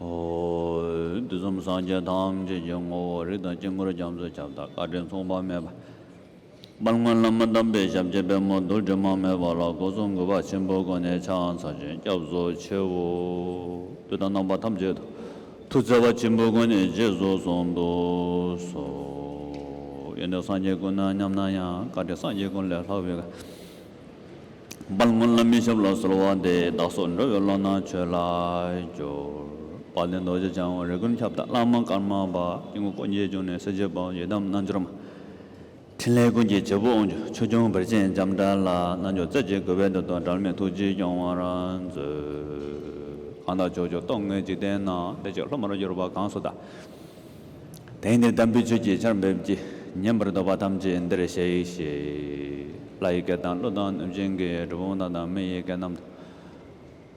འོད་ཟུམ་སངས་རྒྱས་ཐམས་ཅད་ཀྱི་ངོ་བོ་རིགས་དང་དཀྱིལ་འཁོར་རྒྱ་མཚོའི་ཁྱབ་བདག་བཀའ་དྲིན་མཚུངས་པ་མེད་པ། པར་ངོས་བླ་མ་དམ་པའི་ཞབས་ཀྱི་པད་མོ་རྡོ་རྗེ་མ་མོའི་བ་ལ་སྒོ་ཟོང་མགུལ་བ་ཆེན་པོའི་སྒོ་ནས་ཕྱག་འཚལ་ཅིང་སྐྱབས་སུ་མཆིའོ། བདུད་དང་རྣམ་པ་ཐམས་ཅད་དུ་ཐུགས་བརྩེ་བ་ཆེན་པོའི་སྒོ་ནས་རྗེས་སུ་བཟུང་དུ་གསོལ། ཡེ་ནས་སངས་རྒྱས་ཀུན་སྙམ་ན་ཡང་བཀའ་དྲིན་སངས་རྒྱས་ཀུན་ལས་ལྷག་པའི། པར་སྔོན་ལ་མི་ཞབས་ལ་གསོལ་བ་འདེབས་བདག་སོགས་འགྲོ་བའི་བློ་སྣང་ཆོས་ལ་སྦྱོར། བ་དན་རྡོ་རྗེ་འཆང་བ་རི་ཀོན་ཁྱབ་བདག་བླ་མ་ཀརྨ་པ་སྐྱེ་དགུ་སྤུན་མཆེད་ཆུང་ནས་སྲས་ཆོས་འབངས་ཡི་དམ་རྣལ་འབྱོར་མ། ཕྲིན་ལས་ཀུན་གྱི་བྱེད་པོ་དབང་ཕྱུག་ཆོས་སྐྱོང་བེར་ཆེན་འཇམ་དཔལ་ལ་རྣལ་འབྱོར་རྩལ་གྱིས་བསྐུལ་བས་འདི་དང་འགྲལ་མེད་ཐུགས་རྗེས་སྐྱོང་བར་མཛོད། གང་དག་ཕྱོགས་བཅུ་རྟོག་ངེས་འཇིག་རྟེན་ན་བདེ་སྐྱིད་ལྷུ་མར་གྱུར་པ་གང་སུ་དག། དེང་ནས་དམ་པའི་ཆོས་ཀྱི་ཆར་འབེབས་ཀྱིས་བསྙེན་པར་འདོད་པ་ཐམས་ཅད་འདིར་གཤེགས་ཤིག། ལྷ་ཡི་སྐད་དང་ཀླུ་དང་གནོད་སྦྱིན་གྱི་གྲུ་བོང་དང་དང་མི་ཡི་སྐད་རྣམས་དང།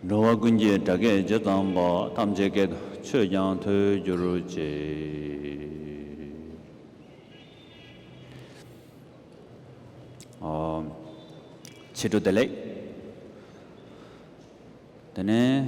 འགྲོ་བ་ཀུན་གྱི་སྒྲ་སྐད་ཇི་ཙམ་པ་ཐམས་ཅད་སྐད་དུ་ཆོས་ཀྱང་ཐོས་རྒྱུར་བྱེད། ཕྱི་དྲོ་བདེ་ལེགས། དེ་ནས།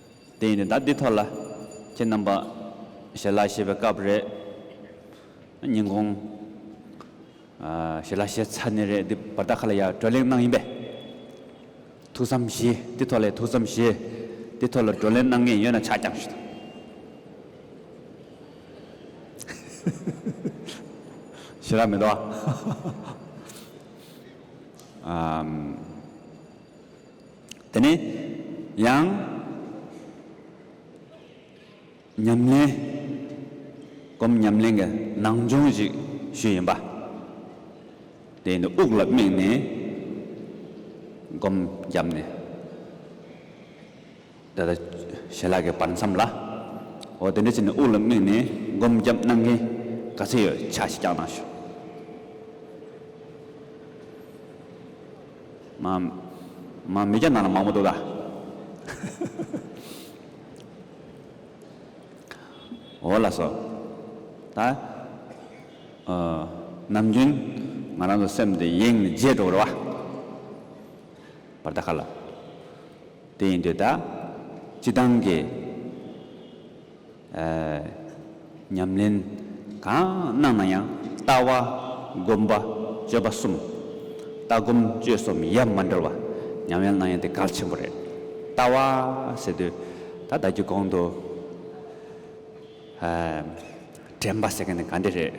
དེ་ཡིན་ནས་ད་འདི་ཐོག་ལ་ཁྱེད་རྣམ་པ་ཞལ་ལག་ཤེས་པའི་སྐབས་རེད། ཉིན་གུང་ཞལ་ལག་ཤེས་ཚར་ནས་རེད་འདི་བར་ད་ག་ལ་ཡར་བགྲོ་གླེང་གནང་ཡིན་པས། ཐུགས་བསམ་བཞེས་འདི་ཐོག་ལས་ཐུགས་བསམ་བཞེས་འདི་ཐོག་ལ་བགྲོ་གླེང་གནང་ངེས་ཡོད་ན་ཕྱག་བརྐྱང་ཞུ་དང། ཞལ་ལག་མི་འདུག་ཨ། དེ་ནས་ཡང་ཉམས་ལེན། སྒོམ་ཉམས་ལེན་གྱི་ནང་སྦྱོང་ཞིག་ཞུས་ཡིན་པ། དེ་ཡིན་དུ་དབུགས་ལ་དམིགས་ནས་སྒོམ་བརྒྱབ་ནས། ད་ལྟ་ཞལ་ལག་གི་བར་མཚམས་ལ། འོ་དེ་འདྲ་བྱས་ནས་དབུགས་ལ་དམིགས་ནས་སྒོམ་རྒྱབ་གནང་མཁན་ག་ཚོད་ཡོད་ཕྱག་བཞི་བརྐྱང་གནང་ཞུ། མ། མ་མི་བརྐྱང་གནང་ན་མང་པོ་འདུག་ག། འོ་ལ་སོ། ད། ཨོ། ནམ་རྒྱུན་ང་རང་ཚོ་སེམས་དེ་ཡེངས་ནས་བརྗེད་འགྲོ་གི་རེད་བ། བར་ད་ག་ལ། དེ་ཡིན་དེ་དག་སྤྱི་བཏང་གི་ཉམས་ལེན་གང་གནང་ན་ཡང་ལྟ་བ་སྒོམ་པ་སྤྱོད་པ་གསུམ། ལྟ་སྒོམ་སྤྱོད་གསུམ་ཡ་མ་འདྲ་བ་ཉམས་ལེན་གནང་ཡ་དེ་གལ་ཆེན་པོ་རེད། ལྟ་བ་ཟེར་དུས་ད་ལྟ་སྒྱུ་གོང་དུ་དྲན་པ་ཟེར་མཁན་དེ་ག་འདི་རེད།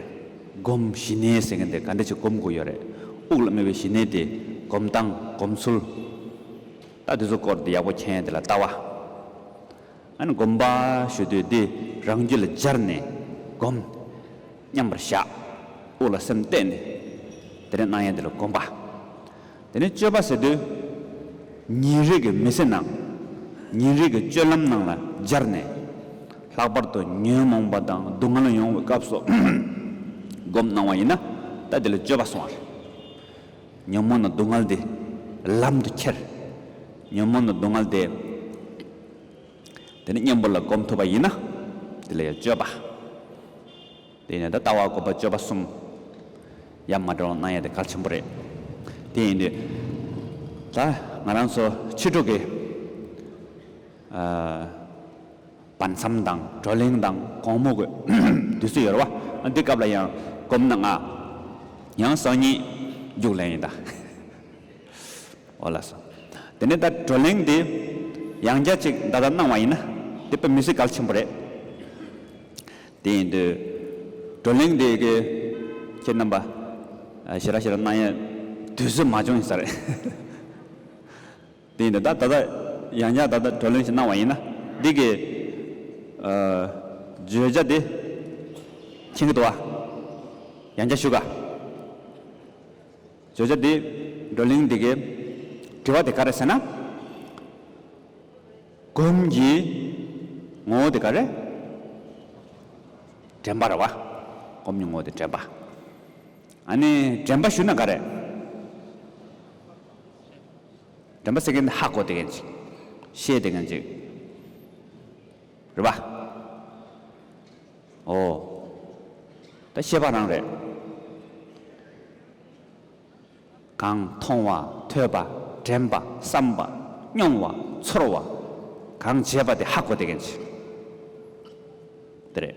སྒོམ་ཞི་གནས་ཟེར་མཁན་དེ་ག་འདི་ཅིག་སྒོམ་དགོས་ཡོད་རེད། དབུགས་ལ་སྨེ་བའི་ཞི་གནས་དེ་སྒོམ་སྟངས་སྒོམ་ཚུལ། ད་དེ་ཚོ་སྐོར་དེ་ཡག་པོ་མཁྱེན་དེ་ལ་ལྟ་བ། ཨཱ་ནི་བསྒོམ་པ་ཞུ་དུས་འདི་རང་རྒྱུད་ལ་སྦྱར་ནས་བསྒོམ། མཉམ་པར་བཞག། དབུགས་ལ་སེམས་གཏད་ནས། དེ་རིང་སྣང་ཡས་འདི་ལ་བསྒོམ་པ། དེ་ནས་སྤྱོད་པ་ཟེར་དུས། ཉིན་རེ་གི་མི་ཚེ་ནང། ཉིན་རེ་གི་སྤྱོད་ལམ་ནང་ལ་སྦྱར་ནས། ལྷག་པར་དུ་ཉོན་མོངས་པ་དང་སྡུག་བསྔལ་ཡོང་བའི་སྐབས་སུ་བསྒོམ་སྣང་བ་ཡིན་ན། ད་དེ་ལ་སྤྱོད་པ་སོང་བ་རེད། ཉོན་མོངས་ན་སྡུག་བསྔལ་འདི་ལམ་དུ་ཁྱེར། ཉོན་མོངས་ན་སྡུག་བསྔལ་དེ། དེ་ནི་གཉེན་པོ་ལ་སྒོམ་ཐུབ་པ་ཡིན་ན། དེ་ལ་ཡང་སྤྱོད་པ། དེ་ཡིན་ན་ད་ལྟ་བ་སྒོམ་པ་སྤྱོད་པ་གསུམ། ཡང་མ་འདྲ་བ་སྣང་ཡང་དེ་གལ་ཆེན་པོ་རེད། དེ་ཡིན་དུས། ད་ང་རང་ཚོ་ཕྱི་དྲོ་གི། བར་མཚམས་དང་བགྲོ་གླེང་དང་གོང་སྨོས་སྒོས་དུས་ཚོད་ཡོལ་བ་འདི་སྐབས་ལ་ཡང་གོམས་ན་ང་ཡང་སང་ཉིན་རྒྱུགས་ལེན་ཡིན་ད་འོ་ལགས་སོ། དེ་ནས་ད་བགྲོ་གླེང་འདི་ཡང་བསྐྱར་ཅིག་བདའ་བདའ་གནང་བ་ཡིན་ན་དེ་དཔེ་མི་སྲིད་གལ་ཆེན་པོ་རེད། དེ་ཡིན་དུས་བགྲོ་གླེང་འདི་གི་ཁྱེད་རྣམ་པ་ཞེ་ར་ཞེ་ར་གནང་ཡས་དུས་ཚོད་མ་བྱུང་ཡིན་ས་རེད། དེ་ཡིན་ད། ད་ལྟ་ཡང་བསྐྱར་ད་ལྟ་གྲོས་གླེང་ཞིག་གནང་བ་ཡིན་ན། འདི་གི། བརྗོད་བྱ་དེ། མཁྱེན་གྱི་འདུག་བ། ཡང་བསྐྱར་ཞུ་དཀའ། བརྗོད་བྱ་དེ། བགྲོ་གླེང་འདི་གའི། དྲི་བ་དེ་ག་རེད་ཟེར་ན། སྒོམ་གྱི། ངོ་བོ་དེ་ག་རེད། དྲན་པ་རེད་བ། སྒོམ་གྱི་ངོ་བོ་དེ་དྲན་པ། ཨ་ནི་དྲན་པ་ཞུ་ན་ག་རེད། དྲན་པ་སེ་གེ་འདི་ཧ་གོ་དེ་གན་ཅིག། ཤེས་དེ་གན་ཅིག། རེད་པ། ཨོ། ད་ཤེས་པ་རང་རེད། གང། མཐོང་བ། ཐོས་པ། དྲན་པ། བསམ་པ། སྙོང་བ། ཚོར་བ། གང་བྱས་པ་དེ་ཧ་གོ་དེ་གན་ཅིག། དེ་རེད།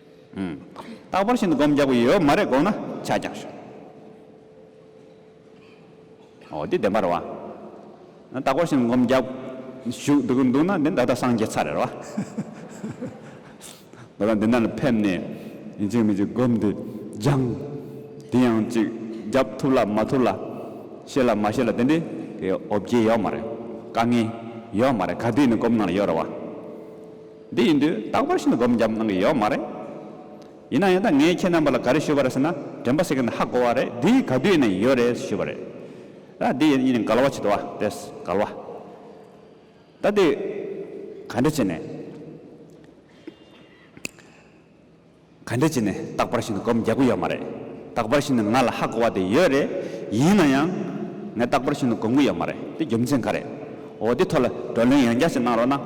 རྟག་པར་ཤིན་ཏུ་བསྒོམ་རྒྱག་པའི་ཡོད་མ་རེད་དགོངས་ན་ཕྱག་རྒྱ་ཞུ། ཨོ་དེ་བདེན་པ་རེད་བ། རྟག་པར་ཤིན་ཏུ་བསྒོམ་རྒྱག་ཞུ་འདུག་གི་འདུག་ན་དེ་ད་ལྟ་སངས་རྒྱས་ཚར་རེད་བ། ད་ལྟ་འདི་འདྲ་ལ་ཕེབས་ནས་ཡིན་གཅིག་མིན་གཅིག་བསྒོམ་དེ་སྦྱང། དེ་ཡང་ཅིག་རྒྱབ་ཐུབ་ལ་མ་ཐུབ་ལ། ཤེས་ལ་མ་ཤེས་ལ་དེ་འདྲའི་ཨོ་བརྒྱལ་ཡོད་མ་རེད། དཀའ་ངལ་ཡོད་མ་རེད་ག་དུས་ནས་བསྒོམ་གནང་ལ་ཡོད་རེད་བ། འདི་ཡིན་དུས་རྟག་པར་ཤིན་ཏུ་སྒོམ་བརྒྱབ་གནང་གི་ཡོད་མ་རེད། ཡིན་ན་ཡང་ད་ངས་ཁྱེད་རྣམ་པ་ལ་ག་རེ་ཞུས་པ་རེད་ཟེར་ན་དྲན་པ་སེ་གེ་ནས་ཧ་གོ་བ་རེད་འདི་ག་དུས་ནས་ཡོད་རེད་ཞུས་པ་རེད། ད་འདི་ཡིན་ནི་གལ་བ་ཆེད་དུ་བ་དེས་གལ་བ། ད་འདི་ག་འདྲ་བྱས་ནས། ག་འདྲ་བྱས་ནས་རྟག་པར་ཤི་ན་སྒོམ་རྒྱག་གི་ཡོད་མ་རེད། རྟག་པར་ཤི་ན་ང་ལ་ཧ་གོ་བ་དེ་ཡོད་རེད། ཡིན་ན་ཡང། ངས་རྟག་པར་ཤི་ན་སྒོམ་གི་ཡོད་མ་རེད་དེ་རྒྱུ་མཚན་ག་རེད། འོ་དེ་ཐོག་ལ་བགྲོ་གླེང་ཡང་བསྐྱར་ཞིག་གནང་རོགས་གནང།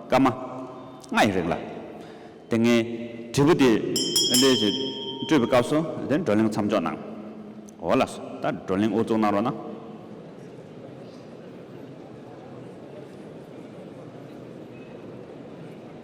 སྐར་མ། ལྔ་ཡི་རིང་ལ། དེ་སྔའི། དྲིལ་བུ་དེ། ལས་ཞིག། སྤྲོད་པའི་སྐབས་སུ། དེ་བགྲོ་གླེང་མཚམས་འཇོག་གནང། འོ་ལགས་སོ། ད་བགྲོ་གླེང་དབུ་བཙུགས་གནང་རོགས་གནང།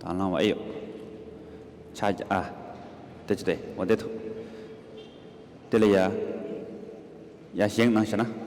དང་བླང་བ་ཨེ་ཡོད། ཕྱག་རྒྱ། ཨ། དེ་ཅི་སྟེ་འོ་བདེ་ཐུབ། དེ་ལས་ཡ། ཡ་བཞེངས་གནང་ཞེ་ན།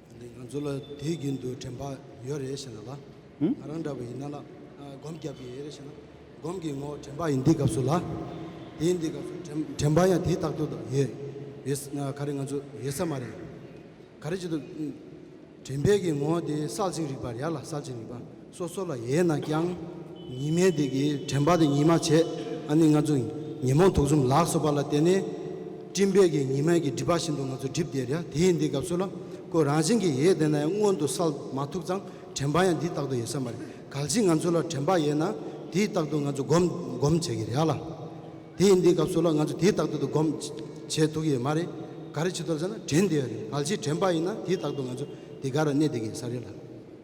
ང་ཚོ་ལ་དུས་རྒྱུན་དུ་དྲན་པ་ཡོད་རེད་ཞེ་ན་ལ་ང་རང་འདྲ་བ་ཡིན་ན་ལ་སྒོམ་རྒྱབ་ཀྱི་ཡོད་རེད་ཞེ་ན་སྒོམ་གྱི་ངོ་དྲན་པ་ཡིན་འདི་སྐབས་སུ་ལ་དེ་འདི་སྐབས་སུ་དྲན་པ་ཡང་དེ་རྟག་ཏུ་དང་ཡོད་ག་རེ་ང་ཚོ་ཡོད་ས་མ་རེད་ག་རེ་བྱེད་དུ་དྲན་པའི་གི་ངོ་དེ་གསལ་ཅིང་རིག་པ་ཡར་ལ་གསལ་ཅིང་རིག་པ། སོ་སོ་ལ་ཡས་ན་ཀྱང། ཉི་མའི་དེ་གའི་དྲན་པ་དེ་ཉིད་མ་བྱས་ཨ་ནི་ང་ཚོ་ཉོན་མོངས་དུག་གསུམ་ལགས་སོ་པ་ལ་བརྟེན་ནས། སྤྲིན་བལ་གྱི་ཉི་མའི་གྱི་སྒྲིབ་པ་བཞིན་དུ་ང་ཚོ་སྒྲིབ་བདེ་ར་དེའི་འདི་སྐབས་སུ་ལ་ཀོ་རང་བཞིན་གྱི་ཡས་དེ་ན་ཡང་མངོན་དུ་སལ་མ་ཐུབ་ཙང་དྲན་པ་ཡང་འདི་རྟག་ཏུ་ཡས་ས་མ་རེད་གལ་སྲིད་ང་ཚོ་ལ་དྲན་པ་ཡས་ན་དེའི་རྟག་ཏུ་ང་ཚོ་སྒོམ་སྒོམ་བྱེད་གི་ར་ལ། དེའི་འདི་སྐབས་སུ་ལ་ང་ཚོ་དེའི་རྟག་ཏུ་དུ་སྒོམ་བྱེད་ཐུག་གི་ཡས་མ་རེད་ག་རེ་བྱེད་ཐུབ་ས་ན་དྲན་བདེ་བ་རེད་གལ་སྲིད་དྲན་པ་ཡས་ན་དེའི་རྟག་ཏུ་ང་ཚོ་དེ་ག་ར་གནས་བདེ་གི་ས་རེད་ལ།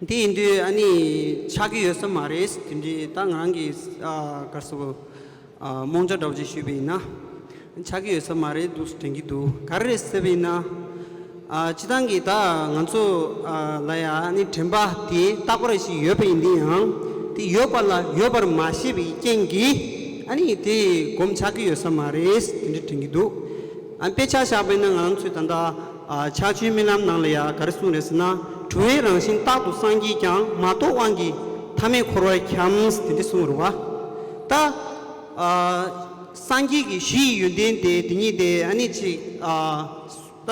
འདི་ཡིན་དུས་ཨ་ནི་ཆགས་ཀྱི་ཡོད་ས་མ་རེད་དེ་འདྲའི་ད་ང་རང་གིས་སྐར་ཚོགས་རྨོངས་ཆ་སྒྲོག་ཅེས་ཞུས་པས་ན་ཆགས་ཀྱི་ཡོད་ས་མ་རེད་འདུག་དྲན་གྱི་འདུག་ག་རེད་ཟེར་བས་ན། བྱེད་སྟངས་ཀྱིས་ད་ང་ཚོ་ལ་ཡང་ཨ་ནི་དྲན་པ་དེ་རྟག་པར་ཞིག་ཡོད་པ་ཡིན་དུས་ཡང་དེ་ཡོད་པ་ལ་ཡོད་པར་མ་ཤེས་པའི་རྐྱེན་གྱིས་ཨ་ནི་དེ་སྒོམ་ཆགས་ཀྱི་ཡོད་ས་མ་རེད་དེ་འདྲ་དྲན་གྱི་འདུག། དཔེ་ཆ་བཞག་པའི་ནང་ང་རང་ཚོས་ད་ལྟ་ཆ་ཆུའི་རྨི་ལམ་ནང་ལ་ཡང་ག་རེ་གསུངས་རེད་ཟེར་ན། དྲི་བའི་རང་བཞིན་རྟག་ཏུ་སངས་རྒྱས་ཀྱང་མ་རྟོགས་དབང་གིས་མཐའ་མེད་འཁོར་བར་འཁྱམས་དེ་འདི་གསུངས་རུང་བ། ད་སངས་རྒྱས་ཀྱི་གཞི་ཡི་ཡོན་ཏན་དེ་དེ་ཉིད་དེ་ཨ་ནི་ཅིག། ད་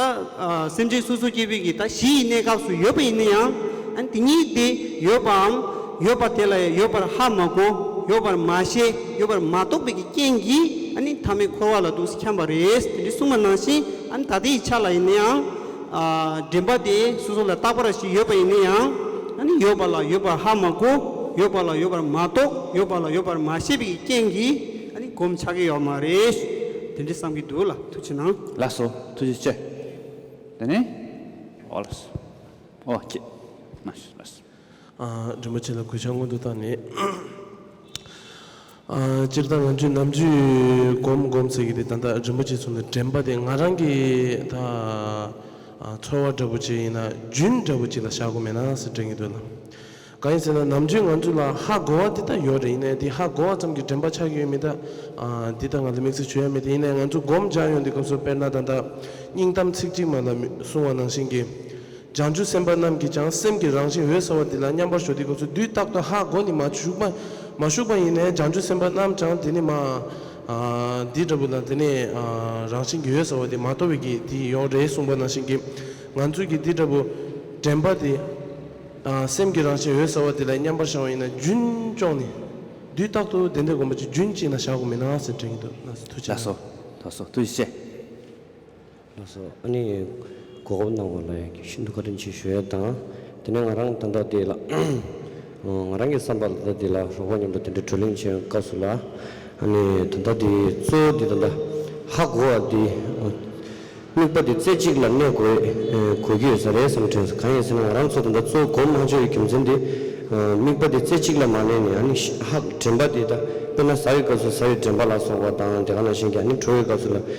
སེམས་ཅན་སོ་སོ་སྐྱེ་བོས་ཀྱི་ད་གཞི་ཡི་གནས་སྐབས་སུ་ཡོད་པ་ཡིན་ན་ཡང་ཨ་ནི་དེ་ཉིད་དེ་ཡོད་པའམ། ཡོད་པ་དེ་ལ་ཡང་ཡོད་པར་ཧ་མ་གོ། ཡོད་པར་མ་ཤེས། ཡོད་པར་མ་རྟོགས་པའི་ཀྱི་རྐྱེན་གྱིས་ཨ་ནི་ཐ་མའི་འཁོར་བ་ལ་དུས་སུ་འཁྱམས་པ་རེད། དེ་འདྲའི་གསུངས་པ་ནང་བཞིན་ཨ་ནི་ད་ལྟའི་ཡི་ཆ་ལ་ཡིན་ན་ཡང། འདྲེན་པ་དེས་སོ་སོ་ལ་བརྟག་པར་ཞིག་ཡོད་པ་ཡིན་ན་ཡང། ཨ་ནི་ཡོད་པ་ལ་ཡོད་པར་ཧ་མ་གོ། ཡོད་པ་ལ་ཡོད་པར་མ་རྟོགས། ཡོད་པ་ལ་ཡོད་པར་མ་ཤེས་པའི་ཀྱི་རྐྱེན་གྱིས་ཨ་ནི་གོམས་ཆགས་ཀྱི་ཡོད་མ་རེད། དེ་འདྲའི་བསམ་གྱི་འདུག་ལ་ཐུགས་ཆེ་གནང། ལགས་སོ་ཐུགས་རྗེ་ཆེ། དེ་ནས། ཨོ་ལགས་སོ། ཨོ་ཁྱེད། མ་ཤེས་ལགས་སོ། རིན་པོ་ཆེ་ལ་གུས་ཕྱག་སྔོན་དུ་བཏང་ནས། སྤྱིར་བཏང་ང་ཚོས་ནམ་རྒྱུན་སྒོམ་སྒོམ་ཟེར་གྱི་དེ་ད་ལྟ་རིན་པོ་ཆེ་ཚུར་ནས་དྲན་པ་དེ་ང་རང་གི་ད་ཚོར་བ་འདྲ་བོ་ཅིག་ཡིན་ན་རྒྱུན་འདྲ་བོ་ཅིག་ལ་བཞག་དགོས་མེད་ན་ཟེར་དྲན་གྱི་འདུག་ལ། གང་ཡིན་ཟེར་ན་ནམ་རྒྱུན་ང་ཚོ་ལ་ཧ་གོ་བ་འདི་ལྟར་ཡོད་རེ་ཡིན་ནའི་དེ་ཧ་གོ་བ་ཙམ་གྱིས་དྲན་པ་ཆགས་ཀྱི་ཡོད་མིན་ད་འདི་ལྟར་ང་ལ་དམིགས་བསལ་ཆོས་ཡ་མེད་དེ་ཡིན་ནའི་ང་ཚོ་སྒོམ་སྦྱངས་ཡོང་དུས་སྐབས་སུ་དཔེར་ན་ད་ལྟ་སྙིང་གཏམ་ཚིག་གཅིག་མ་ལ་སོང་བ་ནང་བཞིན་གྱི། བྱང་ཆུབ་སེམས་དཔའ་རྣམས་ཀྱིས་ཀྱང་སེམས་ཀྱི་རང་བཞིན་འོད་གསལ་བ་འདི་ལ་མཉམ་པར་ཞོག་དེའི་སྐབས་སུ་དུས་རྟག་ཏུ་ཧ་གོ་ནི་མ་ཞུགས་པ་མ་ཞུགས་པ་ཡིན་ནས་བྱང་ཆུབ་སེམས་དཔའ་རྣམས་ཀྱང་དེ་ནི་མ། འདི་འདྲ་བུ་ལ་དེ་ནི་རང་བཞིན་གྱི་འོད་གསལ་བ་དེ་མ་དོར་བས་ཀྱི་དེ་ཡི་ཡོངས་རེའི་གསུངས་པ་ནང་བཞིན་གྱི་ང་ཚོས་ཀྱི་འདི་འདྲ་བུ་དྲན་པ་དེ། སེམས་ཀྱི་རང་བཞིན་འོད་གསལ་བ་དེ་ལ་མཉམ་པར་བཞག་པ་ཡིན་ན་རྒྱུན་སྐྱོང་ནི། དུས་རྟག་ཏུ་དེ་འདྲའི་དགོངས་པ་ཅིག་རྒྱུན་གཅིག་ན་བཞག་གོ་མིན་ན་ཟེར་དྲན་གྱི་འདུག་ན་ཟེར་ཐུགས་རྗེ་ལགས། ལགས་སོ། ཨ་ནི་གོ་སྐབས་གནང་བ་ལ་ཤིན་ཏུ་བཀའ་དྲིན་ཆེ་ཞུ་ཡས་དང། དེ་ནས་ང་རང་ད་ལྟ་འདི་ལ། ང་རང་གི་བསམ་པར་ད་ལྟ་འདི་ལ་རོགས་པ་མཉམ་དུ་དེ་འདྲའི་བགྲོ་གླེང་བྱས་སྐབས་སུ་ལ། ཨ་ནི་ད་ལྟ་འདི་གཙོ་བོ་འདི་ད་ལྟ་ཧ་གོ་བ་འདི། དམིགས་པ་འདི་རྩེ་གཅིག་ལ་གནས་དགོས་དགོས་ཀྱི་ཡོད་ས་རེད་བསམ་དྲན་སོ། གང་ཡིན་ཟེར་ན་ང་རང་ཚོ་ད་ལྟ་གཙོ་བོ་གོང་དམངས་ཆོས་ཀྱི་རྒྱུ་མཚན་འདི། དམིགས་པ་འདི་རྩེ་གཅིག་ལ་མ་གནས་ནས་ཨ་ནི་ཧ་དྲན་པ་འདི་ད་དཔེར་ན་ཟ་བའི་སྐབས་སུ་ཟ་བའི་དྲན་པ་ལ་སོགས་པ་དང་དེ་ག་ན་གཞན་གྱི་ཨ་ནི་བྲོ་བའི་སྐབས་སུ་ལ།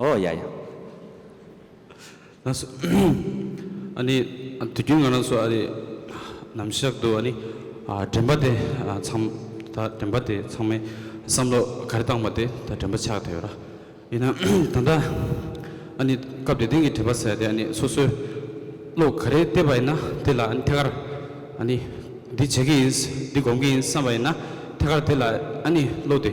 ཨོ་ཡ་ཡ། ཨ་ནི་དུས་རྒྱུན་ང་རང་ཚོ་ཨ་རི་ནམ་གཞག་ཏུ་ཨ་ནི་དྲན་པ་དེ་ཚང་ད་དྲན་པ་དེ་ཚང་མའི་བསམ་བློ་ག་རེ་བཏང་པ་དེ་ད་དྲན་པ་ཆགས་ཐུབ་ཡོད་ར། ཡིན་ན་ད་ལྟ་ཨ་ནི་སྐབས་དེ་དོན་གྱི་བྲིས་པ་ཟེར་དེ་ཨ་ནི་སོ་སོའི་བློ་ག་རེ་བལྟས་པ་ཡིན་ན་དེ་ལ་ཨ་ནི་ཐད་ཀར་ཨ་ནི་འདི་བྱེད་ཀྱི་ཡིན་འདི་སྒོམ་གྱི་ཡིན་བསམ་པ་ཡིན་ན་ཐད་ཀར་དེ་ལ་ཨ་ནི་བློ་དེ།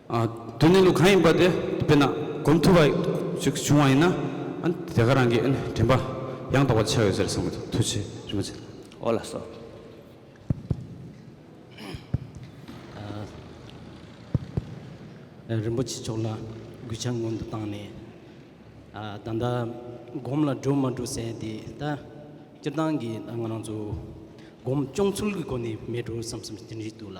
དོན་གནས་ལུགས་གང་ཡིན་པ་དེ་དཔེར་ན་གོམས་ཐུབ་པ་ཞིག་བྱུང་བ་ཡིན་ན་དེ་ག་རང་གི་དྲན་པ་ཡང་དག་པར་འཆར་བའི་ཕྱིར་སངས་རྒྱས་ཐུགས་རྗེ་རིན་པོ་ཆེ། ཨོ་ལ་སོ། རིན་པོ་ཆེ་མཆོག་ལ་གུས་ཕྱག་སྔོན་དུ་བཏང་ནས། ད་ལྟ་སྒོམ་ལ་འགྲོ་མ་འགྲོ་ཟེར་ཡང་དེ་ལྟ་སྤྱིར་བཏང་གི་ང་རང་ཚོ་སྒོམ་སྐྱོང་ཚུལ་གྱི་སྒོ་ནས་མེད་འགྲོ་བསམ་བསམ་དེ་འདྲའི་འདུག་ལ།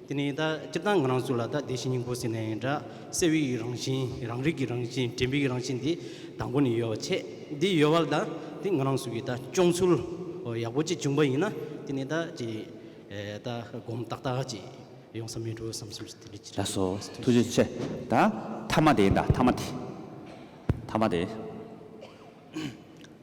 དེ་ནས་ད་སྤྱིར་བཏང་ང་རང་ཚོ་ལ་ད་བདེ་ཞིང་སྙིང་པོ་ཟེར་ནས་ཡིན་འདྲ། སྲེད་བྱེད་ཀྱི་རང་བཞིན་རང་རིག་གི་རང་བཞིན་དྲན་པའི་རང་བཞིན་འདི་དང་པོ་ནས་ཡོད་པ་ཆེ། འདི་ཡོད་པ་ལ་ད་དེ་ང་རང་ཚོ་གི་ད་སྤྱོང་ཚུལ་ཡག་པོ་གཅིག་བྱུང་པ་ཡིན་ན་དེ་ནས་ད་ཅི་ད་སྒོམ་ཏག་ཏག་ཅིག་ཡོང་ས་མེད་འགྲོ་བསམ་སེམས་ཅི་རིགས་ཅི་རིགས་ཡོད་པ་ཐུགས་རྗེ་ཆེ། ད་ཐ་མ་དེ་ཡིན་འདྲ་ཐ་མ་དེ། ཐ་མ་དེ།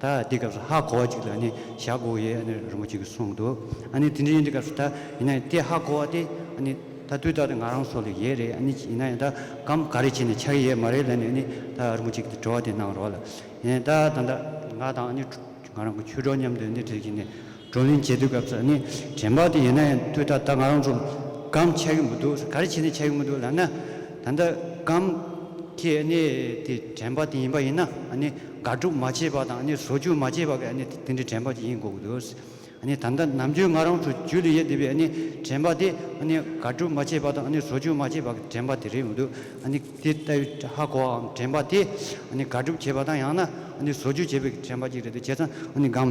ད་དེའི་སྐབས་སུ་ཧ་གོ་བ་ཅིག་ལ་ནི་ཞྭ་གོ་ཡའི་ཨ་ནེ་རིན་པོ་ཆེ་གིས་གསུངས་འདུག་ཨ་ནེ་དེ་འདྲའི་ཡིན་དེ་སྐབས་སུ་ད་ཡིན་ན་ཡང་དེ་ཧ་གོ་བ་དེ་ཨ་ནེ་ད་དུས་རྟག་ཏུ་ང་རང་སོགས་ལ་ཡས་རེད་ཨ་ནེ་ཡིན་ན་ཡང་ད་གམ་ག་རེ་བྱས་ནས་ཆགས་ཀྱི་ཡས་མ་རེད་ལ་ནི་ཨ་ནེ་ད་རིན་པོ་ཆེ་གིས་དྲི་བ་དེ་གནང་རོགས་ལ་ཡིན་ད་ད་ད་ང་དང་ཨ་ནེ་ང་རང་གི་ཆོས་གྲོགས་མཉམ་དུ་ཨ་ནེ་བྲིས་ཀྱི་ནི་བགྲོ་གླེང་བྱེད་དུས་སྐབས་སུ་ནི་དྲན་པ་དེ་ཡོད་ན་ཡང་ཐོས་དྲགས་ད་ང་རང་ཚོ་སྒམ་ཆགས་ཀྱི་མི་འདུག་ག་རེ་བྱས་ནས་ཆགས་ཀྱི་མི་འདུག་ལབ་ན། ད་ལྟ་སྒམ་དེ་ནི་དེ་དྲན་པ་དེ་ཡིན་པ་ཡིན་ན་ནི་དགག་སྒྲུབ་མ་བྱས་པ་དང་ནི་བཟོ་བཅོས་མ་བྱས་པ་གས་ནི་དེ་འདྲའི་དྲན་པ་དེ་ཡིན་དགོས་ཀྱི་འདུག་ནི་ད་ལྟ་ནམ་རྒྱུན་ང་རང་ཚོ་རྒྱུད་ལ་ཡོད་བསྡད་པའི་ནི་དྲན་པ་དེ་ནི་དགག་སྒྲུབ་མ་བྱས་པ་དང་ནི་བཟོ་བཅོས་མ་བྱས་པ་གས་དྲན་པ་དེ་རེད་མི་འདུག་ནི་དེ་ལྟ་བུའི་ཧ་གོ་བའམ་དྲན་པ་དེ་ནི་དགག་སྒྲུབ་བྱས་པ་དང་ཡང་ན་ནི་བཟོ་བཅོས་བྱས་པའི་དྲན་པ་གཅིག་རེད་འདུག་བྱས་ཙང་ནི་སྒམ།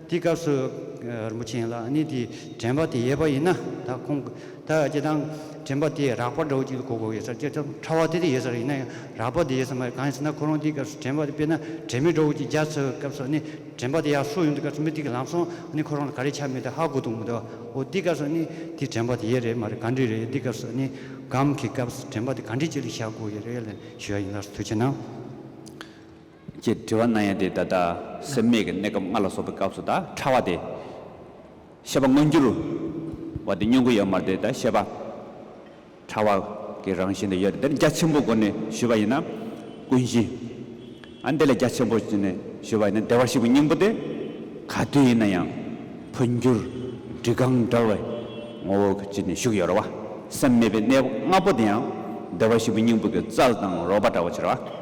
དེའི་སྐབས་སུ། རིན་པོ་ཆེན་ལགས་ནི་དེའི་དྲན་པ་དེ་ཡས་པ་ཡིན་ན་ད་ཁོང་ད་ཅེ་དང་དྲན་པ་དེ་རགས་པ་འདྲ་བོ་ཅིག་ལ་གོ་དགོས་ཡོད་ས་རེད་ཅེ་ཐུབ་ཕྲ་བ་དེ་དེ་ཡས་ས་རེད་ཡིན་ན་ཡང་རགས་པ་དེ་ཡས་ས་མ་རེད་གང་ཡིན་ཟེར་ན་ཁོ་རང་དེའི་སྐབས་སུ་དྲན་པ་དེ་དཔེར་ན་དྲན་མེད་འདྲ་བོ་ཅིག་རྒྱ་མཚོའི་སྐབས་སུ་ནི་དྲན་པ་དེ་ཡག་སུ་ཡོང་དུས་སྐབས་སུ་མི་དེ་གི་ལམ་སོང་ནི་ཁོ་རང་ལ་ག་རེ་ཆ་མེད་དེ་ཧ་གོ་ཐུབ་མི་འདུག་འོ་དེའི་སྐབས་སུ་ནི་དེའི་དྲན་པ་དེ་ཡས་རེད་མ་རེད་གང་འདྲས་རེད་དེའི་སྐབས་སུ་ནི་སྒམ་གི་སྐབས་སུ་དྲན་པ་དེ་གང་འདྲས་ཅིག་ལ་བཞག་དགོས་ཡས་རེད་ལན་ཞུ་ཡ་ཡིན་ལགས་སོ་དུས་ཆེན་ནང། ཅེས་དྲི་བ་གནང་ཡང་དེ་ད་ལྟ་སེམས་མེད་ཀྱི་གནས་སྐབས་ལྔ་ལ་སོགས་པའི་སྐབས་སུ་དག་ཕྲ་བ་དེ། ཤེས་པ་མངོན་འགྱུར་བ་དེ་སྙོམས་འགུལ་ཡོད་མར་དེ་ད་ཤེས་པ་ཕྲ་བ་གི་རང་བཞིན་དུ་ཡོད་དེ་འདིར་རྒྱ་ཆེན་པོའི་སྒོ་ནས་ཞུས་པ་ཡིན་ན་ཀུན་གཞི། ཨ་འདི་ལ་རྒྱ་ཆེན་པོ་ནས་ཞུས་པ་ཡིན་ན་བདེ་བར་གཤེགས་པའི་སྙིང་པོ་དེ་ག་དུས་ཡིན་ན་ཡང་འཕོ་འགྱུར་འབྲི་སྒང་འདྲ་བའི་ངོ་བོ་གཅིག་ནས་བཞུགས་ཡོད་རེད་བ། སེམས་མེད་པའི་གནས་ལྔ་པོ་དེ་ཡང་བདེ་བར་གཤེགས་པའི་སྙིང་པོ་གི་རྩལ་དང་རོལ་པ་འདྲ་བ་ཕྱིར་བ།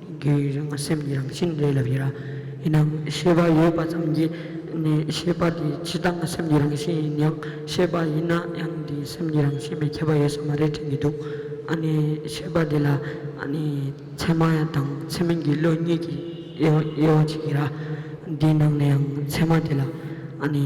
གི་རང་སེམས་ཀྱི་རང་བཞིན་རེད་ལབ་ཡོད་ར། ཡིན་ནའང་ཤེས་པ་ཡོད་པ་ཙམ་གྱིས་ནི་ཤེས་པ་དེ་སྤྱི་བཏང་སེམས་ཀྱི་རང་བཞིན་ཡིན་ཡང་ཤེས་པ་ཡིན་ན་ཡང་དེ་སེམས་ཀྱི་རང་བཞིན་མི་ཁྱབ་པ་ཡོད་ས་མ་རེད་དྲན་གྱི་འདུག་ཨ་ནི་ཤེས་པ་དེ་ལ་ཨ་ནི་ཚད་མ་དང་ཚད་མིན་གྱི་བློ་གཉིས་ཀྱི་དབྱེ་བ་གཅིག་ཡིན་ར། དེའི་ནང་ནས་ཡང་ཚད་མ་དེ་ལ་ཨ་ནི།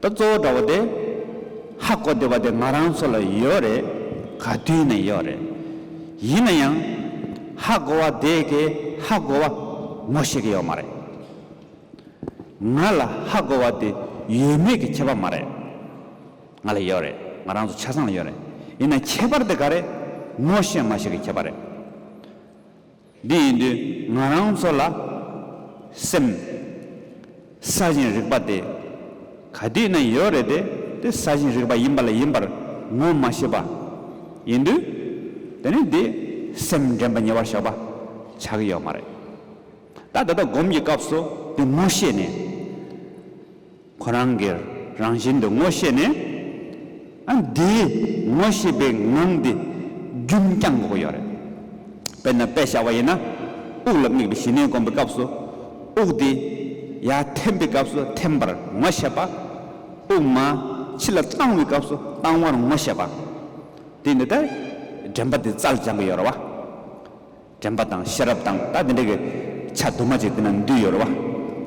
ད་གཙོ་བོ་འདྲ་བོ་དེ། ཧ་གོ་བདེ་བ་དེ་ང་རང་ཚོ་ལ་ཡོད་རེད། ག་དུས་ནས་ཡོད་རེད། ཡིན་ན་ཡང། ཧ་གོ་བ་དེ་གའི་ཧ་གོ་བ་མོ་ཞིག་ཡོད་མ་རེད། ང་ལ་ཧ་གོ་བ་དེ་ཡོད་མེད་ཀྱི་ཁྱད་པར་མ་རེད། ང་ལ་ཡོད་རེད། ང་རང་ཚོ་ཆ་ཚང་ལ་ཡོད་རེད། ཡིན་ན་ཁྱད་པར་དེ་ག་རེད། ངོ་ཤེས་མ་ཤེས་ཀྱི་ཁྱད་པར་རེད། འདི་ཡིན་དུས་ང་རང་ཚོ་ལ་སེམས། ས་ཞིང་རིག་པ་དེ་ག་དུས་ན་ཡོད་རེད་དེ་དེ་ས་ཞིང་རིག་པ་ཡིན་པ་ལ་ཡིན་པར་ངོ་མ་ཤེས་པ། ཡིན་དུས་དེ་ནི་དེ་སེམས་འདྲེན་པ་ཉེ་བར་བཞག་པ་ཆགས་ཀྱི་ཡོད་མ་རེད། ད་ད་ལྟ་སྒོམ་གྱི་སྐབས་སུ་དེ་ངོ་ཤེས་ནས། ཁོ་རང་གི་རང་བཞིན་དུ་ངོ་ཤེས་ནས། ཨ་འདིའི་ངོ་ཤེས་པའི་ངང་འདི་རྒྱུན་བསྐྱང་དགོས་ཀྱི་ཡོད་རེད། དཔེར་ན་དཔེ་བཞག་པ་ཡིན་ན། དབུགས་ལ་དམིགས་པའི་ཞི་གནས་སྒོམ་པའི་སྐབས་སུ། དབུགས་འདི་ཡར་འཐེན་པའི་སྐབས་སུ་འཐེན་པར་ངོ་ཤེས་པ། དབུགས་མ་ཕྱི་ལ་བཏང་བའི་སྐབས་སུ་བཏང་བར་ངོ་ཤེས་པ། དེ་འདི་ལྟར་དྲན་པ་འདི་རྩལ་སྦྱང་གི་ཡོད་རེད་བ། དྲན་པ་དང་ཤེས་རབ་དང་ད་དེ་འདྲ་གི་ཆ་དུ་མ་ཅིག་དེ་ན་འདུས་ཡོད་རེད་བ།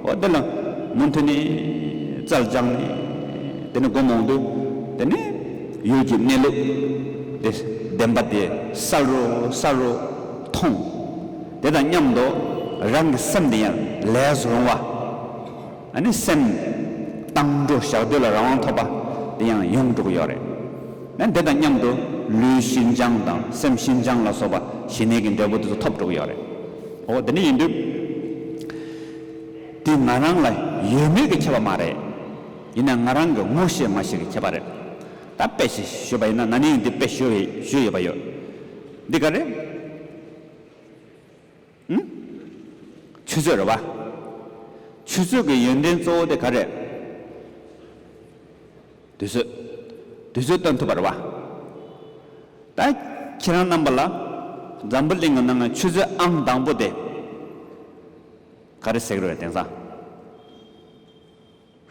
འོ་དེ་ལ་མུ་མཐུད་ནས་རྩལ་སྦྱངས་ནས་དེ་ནས་སྒོམ་འོང་དུས་དེ་ནས་ཡུལ་གྱི་གནས་ལུགས་དེ་བདེན་པ་དེ་གསལ་རུ་གསལ་རུ་མཐོང། དེ་དང་མཉམ་དུ་རང་གི་སེམས་དེ་ཡང་ལས་སུ་རུང་བ། ཨ་ནི་སེམས། བཏང་འགྲོ་བཞག་འདོད་ལ་རང་དབང་ཐོབ་པ། དེ་ཡང་ཡོངས་གྲུབ་ཡོད་རེད། ན་འདི་དང་མཉམ་དུ་ལུས་ཤིན་སྦྱངས་དང་སེམས་ཤིན་སྦྱངས་ལ་སོགས་པ་ཞི་གནས་ཀྱི་འབྲས་བུ་དེ་ཚོ་ཐོབ་འགྲོ་གི་ཡོད་རེད། ཨོ་དེ་འདྲ་ཡིན་དུས། དེ་ང་རང་ལ་ཡོད་མེད་ཀྱི་ཁྱད་པར་མ་རེད། ཡིན་ན་ང་རང་གི་ངོ་ཤེས་མ་ཤེས་ཀྱི་ཁྱད་པར་རེད། ད་དཔེ་ཞིག་ཞུས་པ་ཡིན་ན་ན་ནིང་འདི་དཔེ་ཞུས་ཡོད་པ་ཡོད། འདི་ག་རེད། ཨུ། ཆུ་ཚོད་རེད་བ། ཆུ་ཚོད་ཀྱི་ཡོན་ཏན་གཙོ་བོ་དེ་ག་རེད། དུས་ཚོད། དུས་ཚོད་སྟོན་ཐུབ་པ་རེད་བ། ད་ཁྱེད་རང་རྣམ་པ་ལ་འཛམ་བུ་གླིང་གི་ནང་གི་ཆུ་ཚོད་ཨང་དང་པོ་དེ་ག་རེ་ཟེགས་རེད་བ་དེང་སང།